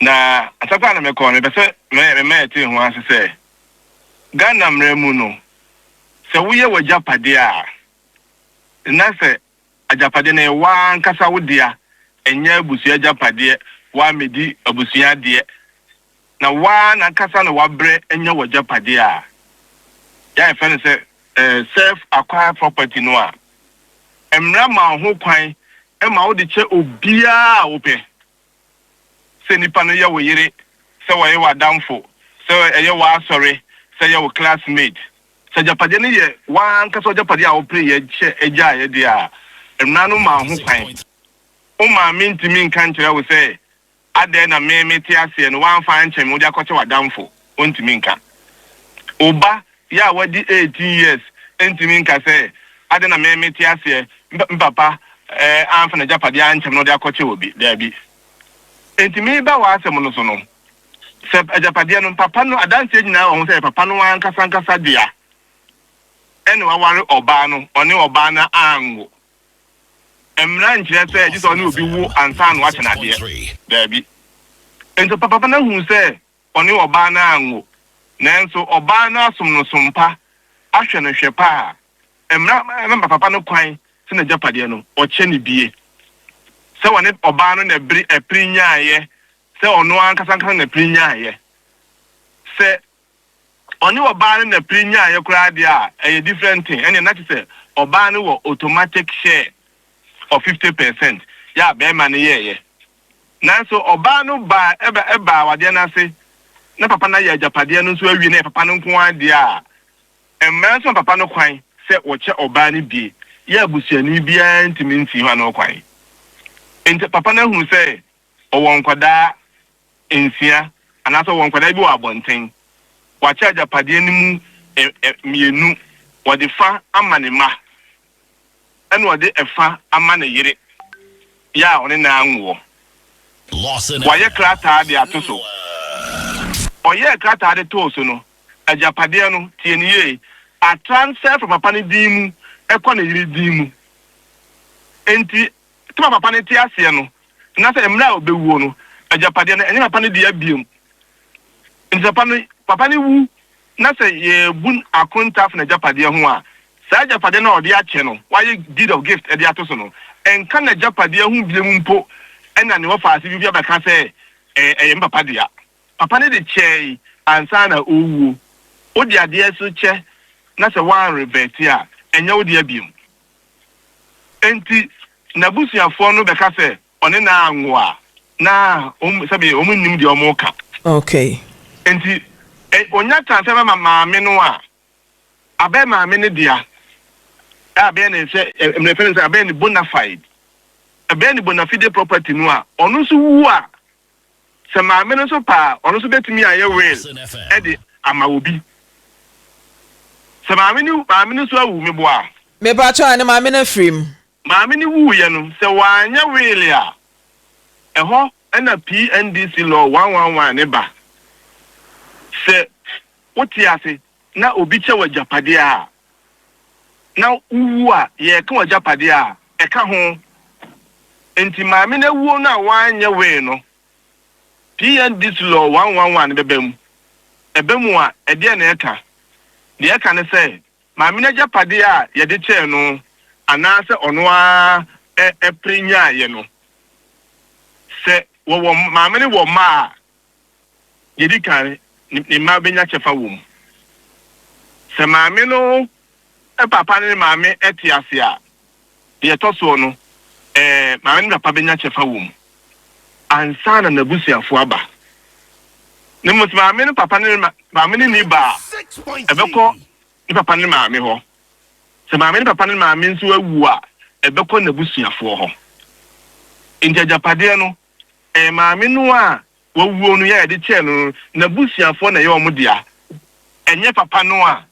Na asɛkɔ a na mekɔ no mepɛ sɛ mema yɛte ho ase sɛ Ghana mmara mu no sɛ woyɛ w'agyapadeɛ a na sɛ Agyapade no yɛ w'ankasa wo dea, ɛnyɛ abusua agyapadeɛ, woammɛdi abusua adeɛ, na wo ara n'ankasa na woabrɛ anya w'agyapadeɛ a yɛfrɛ no sɛ self acquired property no a, mmara ma wo ho kwan ma wode kyɛ obiara a wopɛ. sɛ nipa no yɛ wo yere, sɛ ɔyɛ w'adamfo, sɛ ɛyɛ w'asɔre, sɛ ɛyɛ wo classmate. Sɛ agyapadeɛ no yɛ w'ankasa w'agyapadeɛ a wopereeɛ sɛ ɛgyaeɛ deɛ a, mmara no maa ho kwan. Wo maame ntumi nka nkyerɛ wo sɛ, adɛn na me mete aseɛ no, woamfa ankyɛ me, wode akɔkyɛ w'adamfo. Ontumi nka. Wo ba yi a wadi eighteen years ntumi nka sɛ, Adɛn na me mete aseɛ me papa amfa n'agyapadeɛ ankyɛ me na ɔde akɔkyɛ obi? Daabi. Enti mereba w'asɛm no so no, sɛ agyapadeɛ no, papa no, adanseɛ nyinaa wɔ ho sɛ ɛyɛ papa no ankasa ankasa dea, ɛna waware ɔbaa no, ɔne ɔbaa no anwo. Mmara nkyerɛ sɛ gye sɛ ɔne obi wo ansa na wakyɛ no adeɛ. Daabi. Enti papa no ahunu sɛ ɔne ɔbaa no anwo, nanso ɔbaa no asom no som pa, ahwɛ no hwɛ pa a, mmara ma ne papa no kwan sɛ n'agyapadeɛ no, ɔkyɛ no bie. Sɛ ɔne ɔbaa no na bere apiri nyaaeɛ, sɛ ɔno ankasa ankasa na apiri nyaaeɛ. Sɛ ɔne ɔbaa no na apiri nyaaeɛ koraa deɛ a, ɛyɛ different thing, ɛnneɛ na kyerɛ sɛ ɔbaa no wɔ automatic share of fifty percent yɛ a barima no yɛeɛ. Nanso ɔbaa no baa ɛbɛ ɛbaa awadeɛ no ase, na papa no ayɛ agyapadeɛ no nso awie na ɛyɛ papa no nko ara deɛ a, mmara nso ma papa no kwan sɛ wɔkyɛ ɔbaa no bie yɛ abusuani biara ntumi nsi hɔ ano kwan. Enti papa no ahunu sɛ ɔwɔ nkwadaa nsia anaasɛ ɔwɔ nkwadaa bi wɔ abɔnten, wakyɛ agyapadeɛ no mu ɛ ɛ mmienu, wɔde fa ama ne mma. ɛna ɔde ɛfa ama ne yere yɛ a ɔne no ara nwoɔ. Wayɛ krataa de ato so. Ɔyɛɛ krataa de too so no, agyapadeɛ no, tie no yie, atransfer firi papa no din mu kɔ ne yere din mu. Enti sɛdeɛ papa no te aseɛ no, na sɛ mmerɛ a ɔbɛwuo no, agyapadeɛ no, ɛnyɛ papa no dea biom. Enti sɛ papa no, papa no wu na sɛ yɛrebu akontaafu no agyapadeɛ ho a, saa agyapadeɛ no a wɔde akyɛ no, wɔayɛ deed of gift de ato so no, ɛnka n'agyapadeɛ ho biom mpo na ne wɔfa ase bi bi abɛka sɛ, Ɛyɛ me papa dea. Papa no de kyɛe ansa na ɔrewuo. Wode adeɛ nso kyɛ na sɛ woanrevɛɛte a, ɛnyɛ wo dea biom. Enti, n'abusuafoɔ no bɛka sɛ, Ɔne no anwo a, na wɔn sɛbi wɔn nnim deɛ wɔn reka. Okay. Nti ɛ onya chance sɛ bɛma maame no a, abɛyɛ maame no dea, ɛ abɛyɛ ne sɛ ɛ mmerɛ fɛn no sɛ abɛyɛ ne bonafide, ɛbɛyɛ ne bonafide property no a, ɔno nso wu a, sɛ maame no nso pɛ a, ɔno nso bɛtumi ayɛ will ɛde ama obi. Sɛ maame no maame no nso awu, meboa? Mepa kyɛw a ne maame no afiri mu. Maame no wuiɛ no, sɛ wɔanyɛ weel a, ɛhɔ na PNDC law one one one no ba. Sɛ wote ase na obi kyɛ w'agyapadeɛ a, na wowu a, yɛreka w'agyapadeɛ a, ɛka ho. Enti maame no awuo no a wɔanyɛ weel no, PNDC law one one one no bɛba mu. Ɛba mu a, ɛdeɛn na ɛka? Deɛ ɛka ne sɛ, Maame no agyapadeɛ a yɛde kyɛɛ no anaasɛ ɔno ara pere nyaaeɛ no. Sɛ wɔwɔ, maame no wɔ mma a, deɛ ɛdi kan, ne mma bɛnya kyɛfa wɔ mu. Sɛ maame no papa ne ne maame te ase a, Deɛ ɛtɔ soɔ no, ɛɛ, maame ne papa bɛnya kyɛfa wɔ mu ansa na n'abusuafoɔ aba. Na mmom sɛ maame ne papa ne ma, maame no nni ba a, ɛbɛkɔ ne papa ne maame hɔ. Sɛ maame ne papa ne maame nso awu a, ɛbɛkɔ n'abusuafoɔ hɔ. Enti agyapadeɛ no, ɛɛ, maame no a wawuo no yɛ a yɛde kyɛɛ no no, n'abusuafoɔ na ɛyɛ wɔn dea, ɛnyɛ papa no a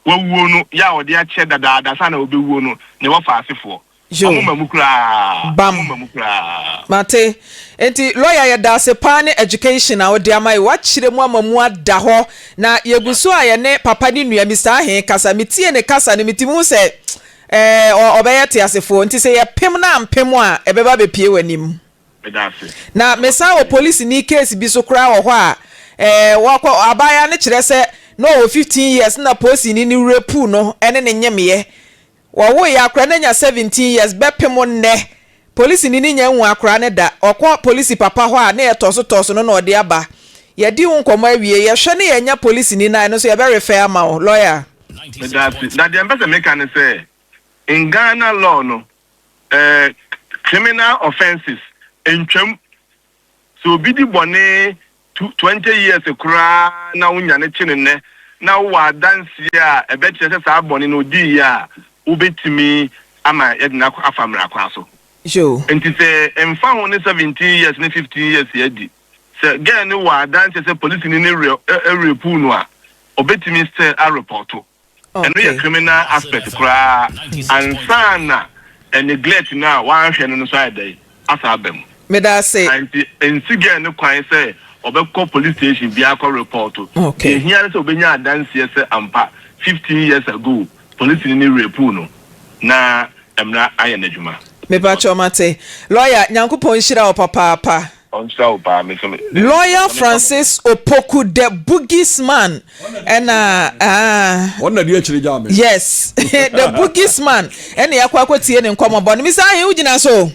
wawuo no yɛ a ɔde akyɛ dadaada saa na ɔbɛwuo no ne wɔfa asefoɔ Yo, ɔmo mma mu koraa bam, ɔmo mma mu koraa. Mate. Enti lɔya yɛdaase paa ne education a wode ama yɛ wakyerɛ mu ama mu ada hɔ na yɛgu so a yɛne papa ne nua Mister Ahee kasa metie ne kasa no metumi hu sɛ ɛɛ ɔbɛyɛ teasefoɔ nti sɛ yɛpem no ampem a ɛbɛba abɛpie w'anim. Meda ase. Na mesan wɔ polisini case bi so koraa wɔ hɔ a eh wakɔ abaayewa no kyerɛ sɛ na ɔwɔ fifteen years na polisini no rape no ne no nyemeɛ. Wɔwoeɛ akora no anya seventeen years bɛpem nnɛ polisini no nya nhu akora no da. Ɔkɔ polisi papa hɔ a na yɛ tɔso tɔso no na ɔde aba. Yɛdi ho nkɔmmɔ awie yɛhwɛ na yɛanya polisini no a ɛno nso yɛbɛ refer ama wo. Lawyer. Meda ase. Na deɛ mpɛ sɛ meka ne sɛ, in Ghana law no, Ɛɛ, criminal offences ntwam. Sɛ obi di bɔne tu twenty years koraa na wonya no kye no nnɛ, na wowɔ adanseɛ a ɛbɛkyerɛ sɛ saa bɔne no odiiɛ a, wobɛtumi ama yɛde no akɔ afa mmara kwan so. Sure. Nti sɛ mfa ho ne seventeen years ne fifteen years a adi, sɛ girl no wɔ adanseɛ sɛ polisini no re, ɛ, ɛ, rapuu no a, ɔbɛtumi still arepɔɔto. Ɛno yɛ criminal aspect koraa ansa na neglect no a wanhwɛ no no nso ayɛ dɛn asan aba mu. Meda ase. Nti nsi girl no kwan sɛ ɔbɛkɔ police station biara akɔ report. Deɛ ɛhia ne sɛ ɔbɛnya adanseɛ sɛ ampa fifteen years ago polisini no rapuu no na mmara ayɛ n'adwuma. Mepa kyɛw mate. Lawyer, Nyankopɔn nhyira wo papaapa. Ɔnkyerɛ wo paa me so me de. Lawyer Francis Opoku the Boogies man ɛna ah. Wɔn na di akyire gyaa me. Yes the Boogies man ɛna yɛakɔ akɔtie ne nkɔmmɔbɔ no Mister Ahe wogyina so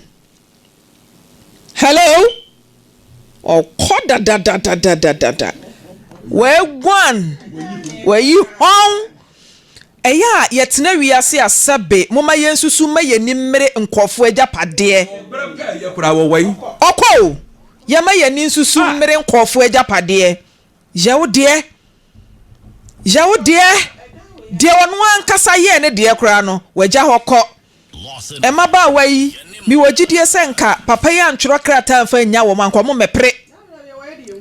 Hello Ɔkɔ dadadadadadada Waguan Wayi hɔn Ɛyɛ a yɛtena wiase a sɛbe momma yɛnsusu mma yɛn ani mmere nkurɔfoɔ agyapadeɛ. Ɔɔ berɛ pɛ a ɛyɛ koraa wɔ wɔ yi. Ɔkɔ o, yɛmma yɛn ani nsusu mmere nkurɔfoɔ agyapadeɛ. Yɛ wo deɛ. Yɛ wo deɛ. Deɛ ɔno ankasa yɛɛ ne deɛ koraa no, wagya hɔ kɔ. Mmabaawa yi, mewɔ gyidie sɛ nka papa yi antwerɛ krataa amfa annya wɔn a, nka wɔmmɛpere.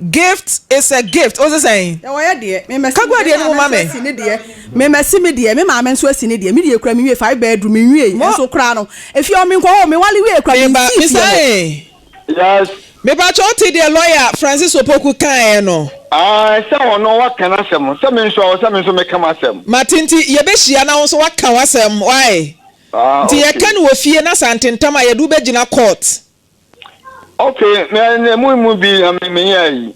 Gift is a gift. Wo se sɛn? Ɛwɔ yɛ deɛ. Me mɛsi. Kagua deɛ no mu ma me. Ɛsi ne deɛ. Me mɛsi me deɛ. Me maame nso asi ne deɛ. Me deɛ kura me wie five bedroom me wie. Nso kura no. Efie ɔmo nkɔ hɔ. Me wale wie kura me nsi fie hɔ. Misa ee. Yes. Mepakyɛ wote deɛ lɔya Francis Opoku kaeɛ no? Ae, sɛ ɔno waka n'asɛm, sɛ me nso ɛwɔ sɛ me nso meka m'asɛm. Mate, nti yɛbɛhyia na wo nso woaka w'asɛm, woae? Ah, Nti okay. yɛka no wɔ fie na sɛ antentam a yɛde wo bɛgyina court. Okay, me, emu mu bi na me, menyɛɛ yi.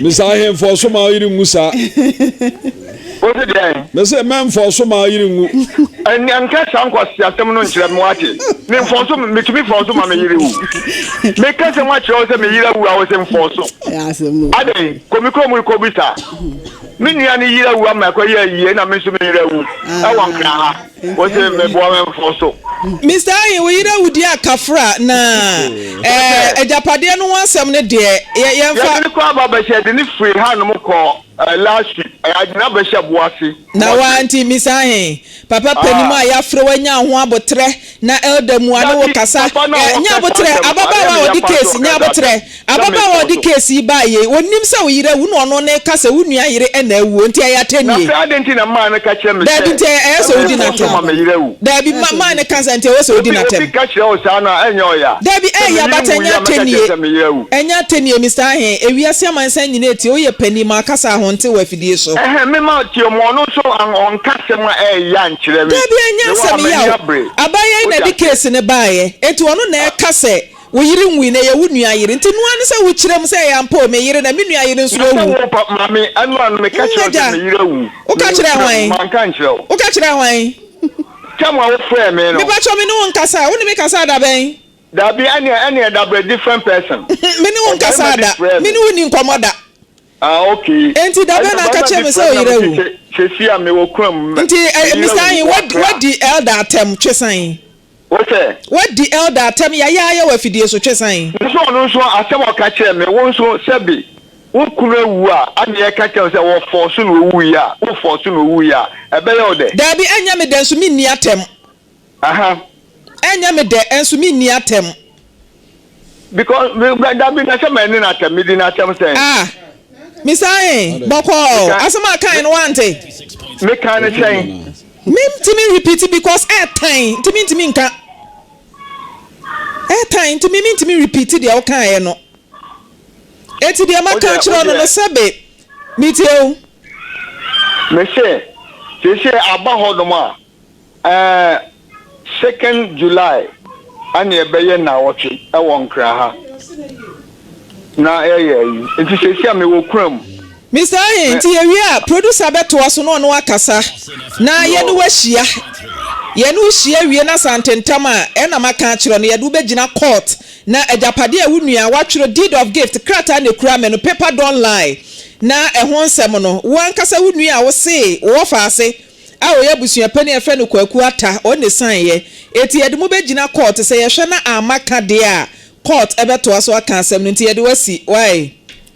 Mese ahemfo so ma yere ngu saa. Wose deɛn? Mese mɛmfo so ma yere ngu. Ɛnea nka saa nkwasi asɛm no nkyerɛ me wate. Me mfo so metumi fo so ma me yere wu. Me ka sɛ wakyerɛ wo sɛ me yere awu a wose mfo so. Adɛn kɔ me kurom kɔ bisa. Me nua ne yere awu ama ɛkɔ yɛ ayie na me nso me yere awu. Ɛwɔ nkra ha. Wose meboa me mfo so. Mister Ayin, wo yere awudi a kafra na ɛɛ agyapadeɛ no ho asɛm no deɛ yɛ yɛnfa. Yɛde no kɔ ababɛhyɛ yɛde no firi ha nom kɔ ɛɛ last week ɛɛ yɛde no abɛhyɛ boase. Na waa nti Mister Ayin, papa panin a yafrɛ wo anya ho aboterɛ na elder mua ne wo kasa ɛɛ nya aboterɛ ababaawa a ɔde case nya aboterɛ Ababaawa a ɔde keesi yi bae yi, onnim sɛ wo yere awu na ɔno ne reka sɛ wo nua yere na awu, enti ɛyɛ atɛnnie. Na sɛ adɛn nti na mmaa no ka kyerɛ me sɛ. Daabi, nti ɛyɛ sɛ wodi no atɛm. Ɛmfa so ma me yere awu. Daabi, mmaa no ka sɛ nti ɛwɔ sɛ wodi no atɛm. Sɛ obi ka kyerɛ wo saa no a, ɛnyɛ ɔyɛ a. Daabi, ɛyɛ ya, but ɛnyɛ atɛnnie. Ɛnyɛ atɛnnie, Mister Ahe. Ewiase amansan nyinaa retie, woyɛ panin, ma ɔkasa a honte wɔ afidie so. Ɛhɛn, memma ɔteɛ mu, ɔno nso ɔnka asɛm a ɛyɛ ya nkyerɛ me. Daabi, ɛnyɛ asɛm ya o. Abaayewa yi na ɛde keesi no baeɛ, enti ɔno na ɛreka sɛ. Wo yere nwui na ɛyɛ wo nua yere nti noa ne sɛ wo kyerɛ mu sɛ ɛyɛ ampa o me yere na me nua yere nso awu. Maame ɛnoa no meka kyerɛ wo sɛ me yere awu na wo kyerɛ mu manka nkyerɛ wo. Wo ka kyerɛ hwan? Tam a wo frɛɛ me no. Me pakyɛ me ne wo nkasaa wo ne me kasaa da bɛn? Dabi ɛneɛ ɛneɛ dabrɛ different person. Me ne wo nkasaa da me ne wo nni nkɔmɔ da. Ah okay. Ɛnti da bɛn na aka kyerɛ me sɛ wo yere awu? Sɛsi a me wɔ kura mu. Nti Mister Ayin wadi elder atɛm twe sɛn? Wo sɛ. Woadi Elder atɛm yaya ayɛ wo afidie so, twe san. Me so ɔno nso asɛm a ɔka kyerɛɛ me, wo nso sɛbe wo kunu awu a anneɛ ɛka kyerɛ wo sɛ wɔ force na owuiɛ a, wo force na owuiɛ a, ɛbɛyɛ wo dɛ? Daabi, ɛnyɛ me dɛ nso menni atɛm. Aha. Ɛnyɛ me dɛ nso menni atɛm. because dabi na sɛ mɛne no atɛm medi no atɛm sɛn ah mesae bɔkɔɔ asɛm a kan no wante mekan no sɛn mentimi repeat because ɛtan eh, nti mentimi nka ɛtan eh, nti me mentimi repeat deɛ wokaeɛ no ɛti deɛ maka kyerɛ no no sɛbe metie o mese sese aba hɔ nom a Ɛɛ, second July ɛne ɛbɛyɛ naawɔtwe ɛwɔ Nkran ha na yɛyɛ ayi nti sɛsi a mewɔ kuram. Mister Ahe, nti yɛwie a producer bɛtoa so na ɔno akasa na yɛne wo ahyia. Yɛne wo hyia wie na sɛ antentam a ɛna maka akyerɛ wo no yɛde wo bɛgyina court na agyapadeɛ a wo nua a watwerɛ deed of gift krataa na ɛkura me no paper don't lie na ɛho nsɛm no wo ankasa wo nua a wosee wowɔ faase a ɔyɛ abusuapɛn a yɛfrɛ no Kwaku Atta ɔn ne saeɛ eti yɛde mo bɛgyina court sɛ yɛhwɛ na amma ka deɛ a court bɛtoa so aka asɛm no nti yɛde wo asi wae.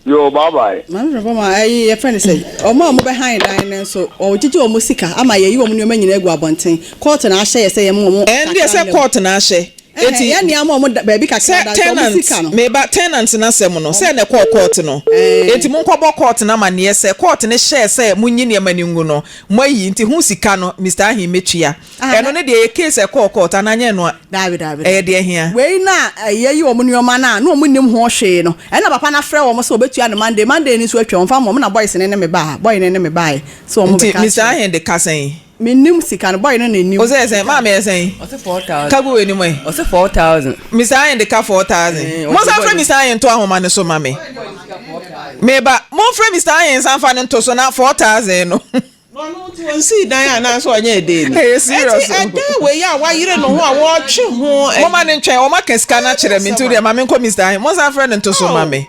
Yoo bye bye. Maame Frɛmpɔn ma ɛyi yɛfrɛ no sɛn wɔn a wɔbɛhan dan no nso wɔgyegye wɔn sika ama yɛyi wɔn nneɛma nyinaa agu abɔnten court na ahyɛ yɛ sɛ yɛmma wɔn ɛndeɛ kakra sɛ mmra mu. court na ahyɛ Eti, sɛ tenant, me ba, tenant no asɛm no, sɛɛ na ɛkɔɔ court no. Enti monkɔbɔ court no amanneɛ sɛ, court no hyɛɛ sɛ monyi nneɛma no ngu no, moayi, nti ho sika no, Mister Ahi mɛtua. Ɛno no deɛ, ɛyɛ case a ɛkɔɔ court, anaa nyɛ ɛno a? Daabi, daabi, daabi. Ɛyɛ deɛ ɛhia. Wei na yɛyi wɔn nneɛma no a, na wɔn nnim ho hwee no, ɛna papa no afrɛ wɔn sɛ ɔbɛtua no Monday, Monday no nso atwam, ɔmfa mma wɔn, na boys no ne me baa ha, boy no ne me baaɛ sɛ wɔn bɛka akyerɛ. Nti Mister Ahi de ka sɛn? Mennim sika no, boy no na ɛnim. Ɔsɛ sɛn? Maame yɛ sɛn? Ɔsɛ four thousand. Ka gu w'anim ɛ. Ɔsɛ four thousand. Misayen de ka four thousand. Monsan frɛ Misayen nto ahoma no so ma me. Meba. Momfrɛ Misayen nsan mfa no nto so na four thousand no. Na ɔno nti ɔnsii dan anaa sɛ ɔnyɛɛ dee ni? Ɛyɛ serious o. Ɛnti ɛdan wei a wayere ne ho a wɔɔtwe ho. Momma no ntwɛn, wɔaka sika no akyerɛ me nti wodeɛ ma menkɔ Mister Ahen. Monsan frɛ no nto so ma me.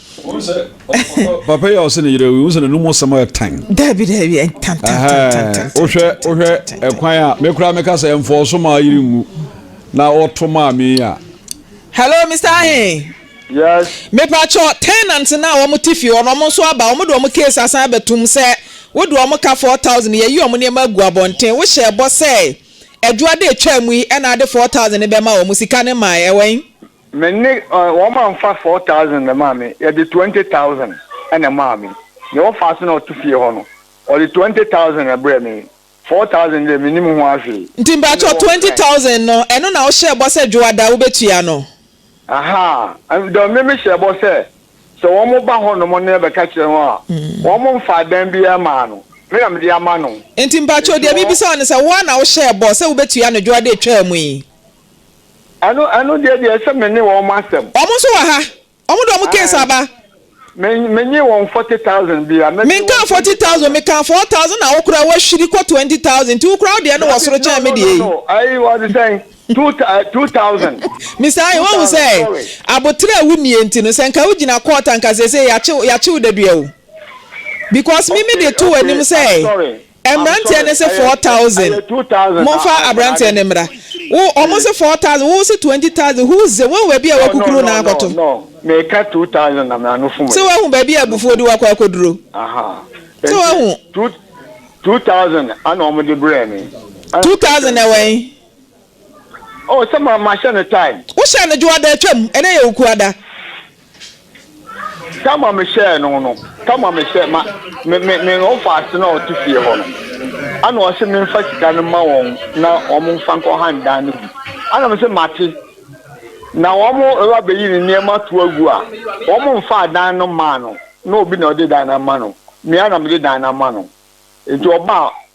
papa yi a ɔsɛ ne yerɛ wi wosɛ n'anum ɔsɛm ayɛ tan daabi daabi ɛntan wohwɛ wohwɛ ɛkwan a mekora meka sɛ ɛmfɔɔ so maa yere nwu na ɔto maa me a hello mr ahe yes mepakyɛ tenant no a wɔn te fie hɔ no wɔn nso aba wɔn de wɔn case asan abɛtum sɛ wode wɔn ka four thousand yɛyi wɔn nneɛma agu abɔnten wohyɛ ɛbɔ sɛ adwuade atwa mu yi ɛna ade four thousand bɛma wɔn sika ne maa ɛwɛn Me ne wɔn a nfa four thousand na ɛmaa me yɛde twenty thousand na ɛmaa me nea ɔfaa so na ɔte fie hɔ no ɔde twenty thousand na ɛbrɛɛ me four thousand deɛ me nim ho ahwee. Nti mpakyɛw twenty thousand no ɛno na wo hyɛɛ bɔ sɛ dwoada wo bɛ tua no. Ahaa ɛno deɛ me me hyɛɛ bɔ sɛ sɛ wɔn ba hɔ nom na yɛ bɛ ka kyerɛ wɔn a wɔn nfaa dan biara mmaa no me na me de ama no. Nti mpakyɛw deɛ me bisa wo ne sɛ wo ara na wo hyɛɛ bɔ sɛ wo bɛ tua no dwoada ɛtwaa mu yi. Ɛno ɛno deɛ deɛ ɛsɛ me ne wɔn asɛm. Wɔn nso wɔ ha. Wɔn de wɔn case aba. Me me nye wɔn forty thousand bi a. Me nka forty thousand me ka four thousand na wo koraa wahwiri kɔ twenty thousand nti wo koraa wo deɛ no wɔ soro kyɛn me deɛ yi. No no no ayi wɔde sɛn two two thousand. Mister Ayi wɔn sɛ abotere a wunie nti no sɛ nka wo gyina court anka sese yakyew yakyew dadua o because me me de to w'anim sɛ. Mmeranteɛ no se four thousand monfa abranteɛ no mmra wo ɔmo se four thousand wo se twenty thousand who ze woahu baabi a wakukuru na akɔto se woahu baabi a abufuo de wo akɔ akɔduro se woahu two thousand na ɛwɔ he. Oh sɛ ma mahyɛ no time. Wohyɛɛ no dwoada atwam, ɛnɛ yɛ okuada. Time a mehyɛɛ no no, time a mehyɛɛ ma me me me ɔfaase no a ɔte fie hɔ no, ɛna ɔse memfa sika no ma wɔn na wɔn mfa nkɔ han dan no bi. Ɛna mese mate. Na wɔn ɛba bɛyi ne nneɛma ato agu a, wɔn mfaa dan no mmaa no, na obi na ɔde dan no ama no, me ara na mede dan no ama no. Nti ɔbaa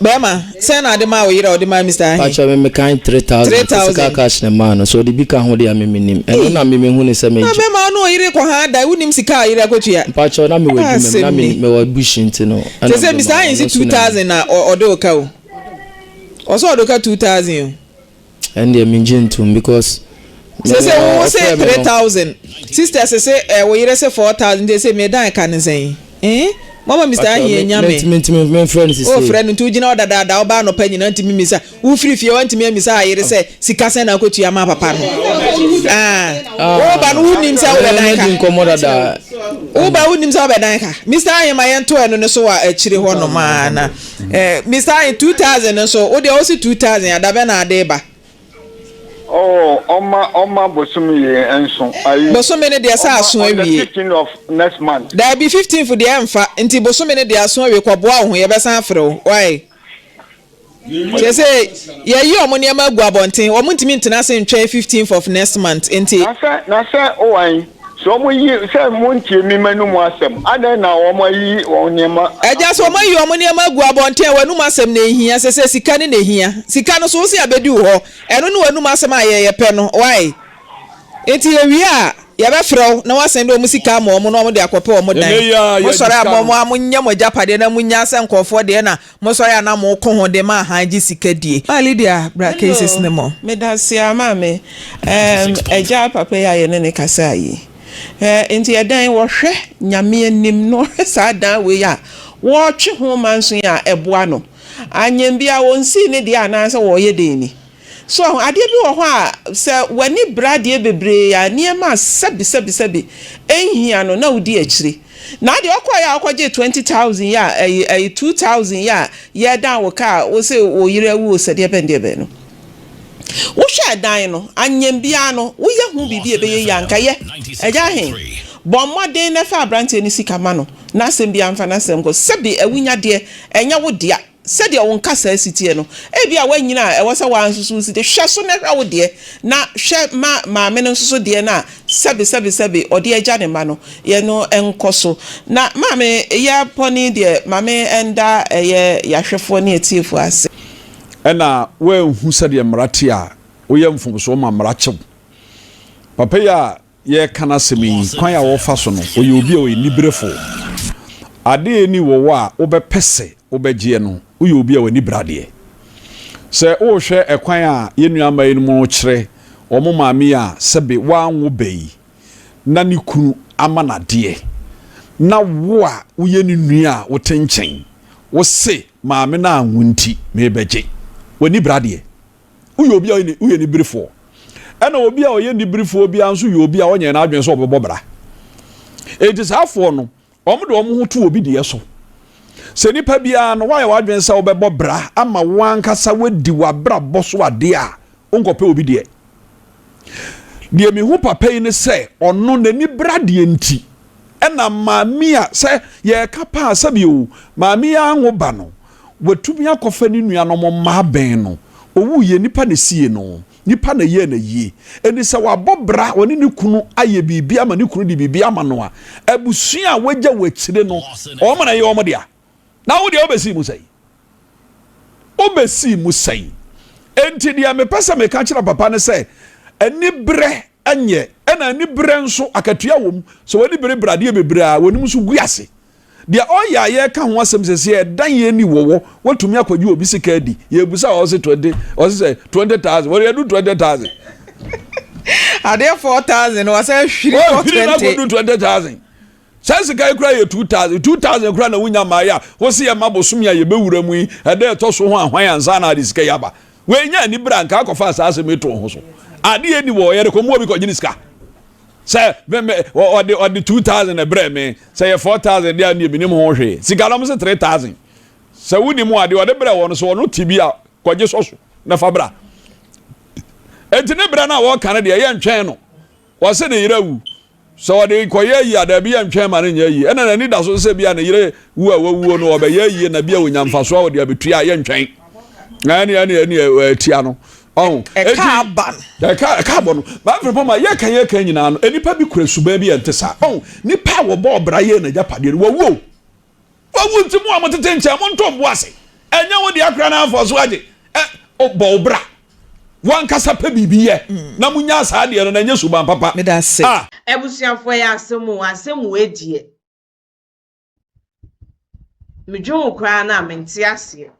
Bɛɛma, sɛn na ɔde maa wo yere a ɔde maa Mister ahe? Pakyɛ me me kan three thousand. Three thousand. Physical cash na maa no, sɛ ɔde bi ka ho deɛ a me me nim. Ɛno na me me huni sɛ me. Na bɛɛma wo ne ɔyere kɔ haa da, wo nim sika a ɔyere akɔtua? Mpakyɛw na me wɔ adwuma mu, na me me wɔ bush nti no. Ɛna me de maa wo. Sɛ sɛ Mister ahe nso two thousand na ɔ ɔde wo ka o. Ɔsɛ ɔde wo ka two thousand o. Ɛndeɛ mengye ntom because. Sese wo wo se three thousand sister sese eh, wo yere se four thousand nti sese meda eka ne sɛn eh mama Mr Ahiɛ nya me o frɛ no nti wogyina hɔ dadaada woba anɔpa nyina ntumi mmisa wofiri fie wantumi ammisa ayere sɛ sika sɛn na akɔtua ama papa no ah. ah. woba no wonim sɛ wobɛdan ka woba wonim sɛ wobɛdan ka Mr Ahiɛ ma yɛnto ɛno no so wɔ akyire hɔ nom ana Eh Mister Ayin two thousand no so wo deɛ wo se two thousand a da bɛn na ade ba? Oh ɔma ɔma bosome yɛ nso ayi. Bosome no deɛ sɛ aso awie. Ɔma on the fifteen of next month. Daabi fifteenth deɛ ɛnfa nti bosome no deɛ aso awie kɔ boa wo ho yɛbɛsan afrɛ wo wai. Kyerɛ sɛ yɛyi wɔn nneɛma agu abɔnten wɔn ntumi ntena ase ntwɛn fifteenth of next month nti. Na sɛ na sɛ owan. So wɔayi sɛ montie me m'anom asɛm? Adɛn na wɔayi wɔn nneɛma agu Agya, so wɔn abɔnten? ayi wɔn nneɛma agu abɔnten a w'anom asɛm na ehia? Ɛsɛ sɛ sika ne na ehia. Sika no so wose abedi wo hɔ. Ɛno ne w'anom asɛm a yɛn yɛpɛ no. Wai? Enti yewie a, yɛbɛfrɛ wo na woasan de wɔn sika ama wɔn na wɔde akɔpɛ wɔn dan. Ɛnnɛ yi ara, yɛadi Mosɔre a, sika no. mommoa monyɛ mo agyapadeɛ na munnya sɛ nkurɔfoɔ deɛ na Mo sɔre a na mo ko ho de ma ahan gye sika die. Ah Lydia bra cases no mu. Hello medaseɛ maame ɛɛm agya papa yi a yɛne ne kasaa yi ɛɛ nti ɛdɛn wɔhwɛ nyame anim na ɔhwɛ saa dan wei a wɔɔtwe ho manso yi a ɛboa no anyɛm biaa wɔnsii ne deɛ anaasɛ wɔɔyɛ dɛn ni. So woahu? Adeɛ bi wɔ hɔ a, sɛ w'ani bere adeɛ bebree a, nneɛma a sɛbisɛbisɛbi nhia no, na wodi akyire. Na deɛ wokɔeɛ a wokɔgyee twenty thousand yi a, ɛyi, ɛyi, two thousand yi a yɛredan wo kaa a, wose wo yere awu o, sɛ deɛbɛn deɛbɛn no. Wohwɛ ɛdan no, anyɛm biara no, woyɛ ho biribi a ɛbɛyɛ yie a, anka yɛ. Agya he, bɔ mmɔden na fa aberanteɛ no sika ma no, n'asɛm biara mfa n'asɛm nkɔ. Sɛbi awunyadeɛ, ɛnyɛ wo dea. Sɛdeɛ wo nkasaa si teɛ no, ebia woanyini a ɛwɔ sɛ wo ara nso so wosi de. Hwɛ so na hwɛ wo deɛ, na hwɛ ma maame no nso so deɛ no a sɛbesɛbesɛbe ɔde agya ne mma no yɛ no nkɔ so. Na maame yɛ bɔne deɛ, maame nda ɛyɛ yɛahwɛfoɔ ne atiefoɔ ase. Ɛna woanhu sɛdeɛ mmara teɛ a, woyɛ mfomsoɔ ma mmara kye wo. Papa yi a yɛreka n'asɛm yi, kwan a ɔfa so no, ɔyɛ obi a ɔyɛ aniberefo. Ade a enni wɔ wo a wobɛpɛ sɛ wobɛgyeɛ no, woyɛ obi a w'ani bere adeɛ. Sɛ worehwɛ ɛkwan a yɛn nuamma yinom rekyerɛ wɔn maame yi a sɛbe wanwo ba yi na ne kunu ama no adeɛ, na wo a woyɛ ne nua a wote nkyɛn, wose, Maame no anwo nti merebɛgye. W'ani bere adeɛ. woyɛ obi a ɔyɛ woyɛ niberefoɔ ɛna obi a ɔyɛ niberefoɔ biara nso yɛ obi a ɔnyɛ n'adwene sɛ ɔbɛbɔ bra eti saafoɔ no wɔn de wɔn ho to obi deɛ so sɛ nipa biara no wayɛ w'adwene sɛ ɔbɛbɔ bra ama wɔn ankasa wadi w'abrabɔ so adeɛ a nkɔpɛ obi deɛ. Deɛ mehu papa yi ne sɛ ɔno n'ani bere adeɛ nti ɛna maame a sɛ yɛreka paa sɛbi o maame yi anwo ba no watumi akɔfa ne nuanom mma abɛn no ɔwuiɛ nipa na sie no nipa na yɛɛ na yie ɛni sɛ wabɔ bra ɔne ne kunu ayɛ biribi ama ne kunu de biribi ama no a abusua a wagya wɔ akyire no ɔmo na ɛyɛ ɔmo dea. Na wo deɛ, wobɛsii mu sɛn? Wobɛsii mu sɛn? Enti deɛ mepɛ sɛ meka kyerɛ papa ne sɛ, aniberɛ nyɛ, ɛna aniberɛ nso akatua wɔ mu. Sɛ w'ani berebere adeɛ bebree a, w'anim nso gu ase. Deɛ ɔyɛ a yɛreka ho asɛm seesei, ɛdan yɛn ani wɔ wɔ, woatumi akɔgye obi sika adi. Yɛrebisa a, ɔse twenty, ɔse sɛ twenty thousand, wɔde adu twenty thousand. Adeɛ four thousand, wasan ahwiri kɔ twenty. Wɔahwiri no akɔdu twenty thousand. Saa sika yi koraa yɛ two thousand two thousand koraa na wonya maa yɛ a wose yɛ ma bosome a yɛbɛwura mu yi ɛda ɛtɔ so ho ahwan ansa na ade sika yi aba wei nya ani bere a nka akɔfa saa asɛm yi too ho so adeɛ ni wɔ yɛde kɔmmoa bi kɔgye ne sika sɛ mɛmɛ ɔde ɔde two thousand ɛbrɛ me sɛ yɛ four thousand deɛ ne menim ho hwee sika na mo se three thousand sɛ wodi mu adeɛ ɔde brɛ wɔn so ɔno ti bi a kɔgye sɔ so na fa bra eti ne brɛ no a wɔka no deɛ yɛntwɛn no wɔse ne yere awu Sɛ ɔde rekɔyɛ ayi a, dabi yɛntwɛn ma no nyɛ ayi. Ɛna n'ani da so no sɛ ebia ne yere wu a wawuo no, ɔbɛyɛ ayie na bia ɔnya mfasoɔ a ɔde abɛtua a, yɛntwɛn. Ɛne ɛne ɛne ɛtia no. Ɔho. Ɛka aba no. Ɛka, ɛka abɔ no. Bible pɔ ma yɛka yɛka nyinaa no, nnipa bi kura suban bi a ɛnte saa. Ɔho. Nnipa a wɔbɔɔ bra yɛɛ n'agyapadeɛ no, wɔawuo. Wawu nti mo a mo tete nkyɛn mo nto bo ase. Ɛnyɛ wo deɛ koraa na anfa so agye. Ɛ bɔ wo bra. Wankasa pɛ biribi yɛ na mo nya saa deɛ no na ɛnyɛ suban papa. Medase. Ah. Abusuafoɔ ɛyɛ asɛm o asɛm wei deɛ me dwen ho koraa no a me nte aseɛ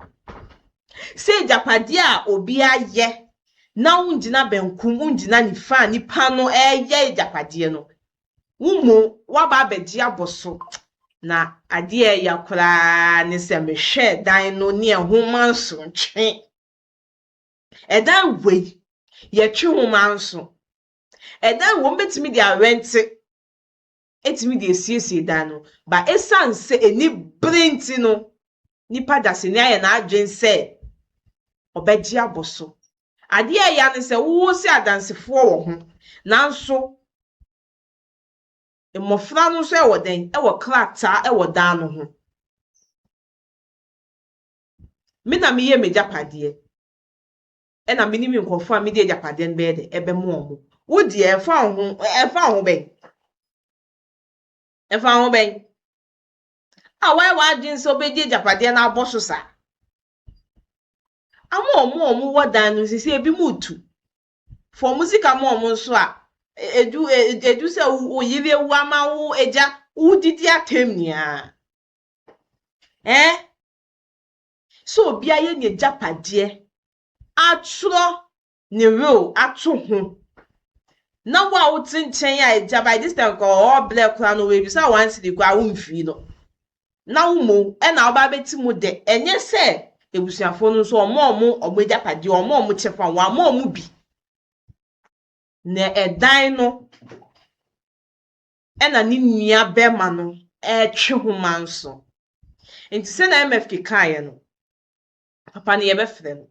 sɛ agyapadeɛ a obi ayɛ na wo ngyina bɛnkum wo ngyina nifaa nipa no ɛyɛ agyapadeɛ no Wo mmom woaba abɛgye abɔ so. Na adeɛ a ɛya koraa ne sɛ mehwɛɛ dan no ne ɛho mma nso ntwe. Ɛdan wei, yɛtwe ho mma nso. Ɛdan wei, wɔbɛtumi de arɛnte atumi de asiesie dan no. But ɛsiane sɛ anibere nti no, nipa dasani ayɛ n'adwene sɛ ɔbɛgye abɔ so. Adeɛ a ɛya ne sɛ wowo sɛ adansefoɔ wɔ ho nanso mmɔfra no nso wɔ dɛn? Wɔ krataa wɔ dan no ho. Me na meyɛ m'agyapadeɛ ɛna me ne me nkurɔfoɔ a mede agyapadeɛ no bɛyɛ dɛ ɛbɛma wɔn. Wo deɛ ɛfa wo ho ɛfa wo ho bɛn? Ɛfa wo ho bɛn? A woayɛ w'adwene sɛ wobɛdi agyapadeɛ no abɔ so saa? ama wɔn a wɔwɔ dan no sisi ebinom tu fa wɔn sika ma wɔn nso a edu edu sɛ wo yere awu ama wo agya wodidi atɛm nyinaa ɛɛ sɛ obi ayɛ n'agyapadeɛ atwerɛ ne werɛw ato ho. Na wo a wote nkyɛn a agya by this time kɔ ɔɔ blɛ koraa no oebisa one cedi koraa wommfii no. Na wo mou na woba abɛte mu dɛ ɛnyɛ sɛ ebusuafo no nso wɔma wɔn wɔn agyapadeɛ, wɔma wɔn kyɛfa, wɔama wɔn bi. Na ɛdan no ɛna ne nua bɛrima no retwe ho manso. Nti sɛnea MFK kaeɛ no, Papa no yɛbɛfrɛ no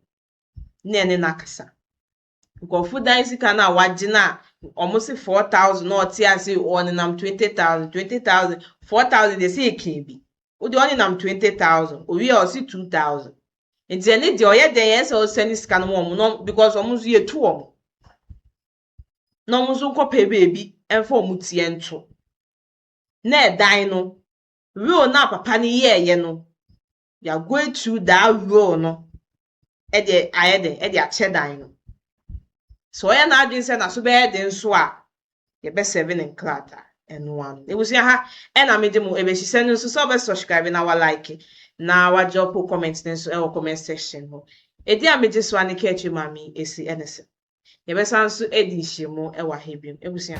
na yɛne no akasa. Nkurɔfo dan sika no a wɔagye no a wɔse 4,000 na ɔte ase ɔnenam 20,000, 20,000, 4,000 deɛ sɛ yɛka bi. Wo deɛ ɔnenam 20,000, owie a ɔse 2,000. Nti ɛne deɛ ɔyɛ dɛn ɛsɛ ɔsɛne sika no ma wɔn na because wɔn nso yɛtu wɔn. Na wɔn nso nkɔpɛ baabi mfa wɔn tiɛ nto. Na ɛdan no, will no a papa no yɛɛyɛ no, they are going through that role no ɛde ayɛ dɛ ɛde akyɛ dan no sɛ ɔyɛ n'adwene sɛ n'aso bɛyɛ den nso a yɛbɛsɛve ne nkrataa ɛno ano ebusua ha ɛna megye mo ebesisɛ no nso sɛ ɔbɛ subscribe na wa like na wa drop comment no nso ɛwɔ comment section hɔ edi a megye so a ne kɛɛtwi maame esi ɛne sɛ Yɛbɛsan nso adi nhyiamu wɔ ha bio. Abusua.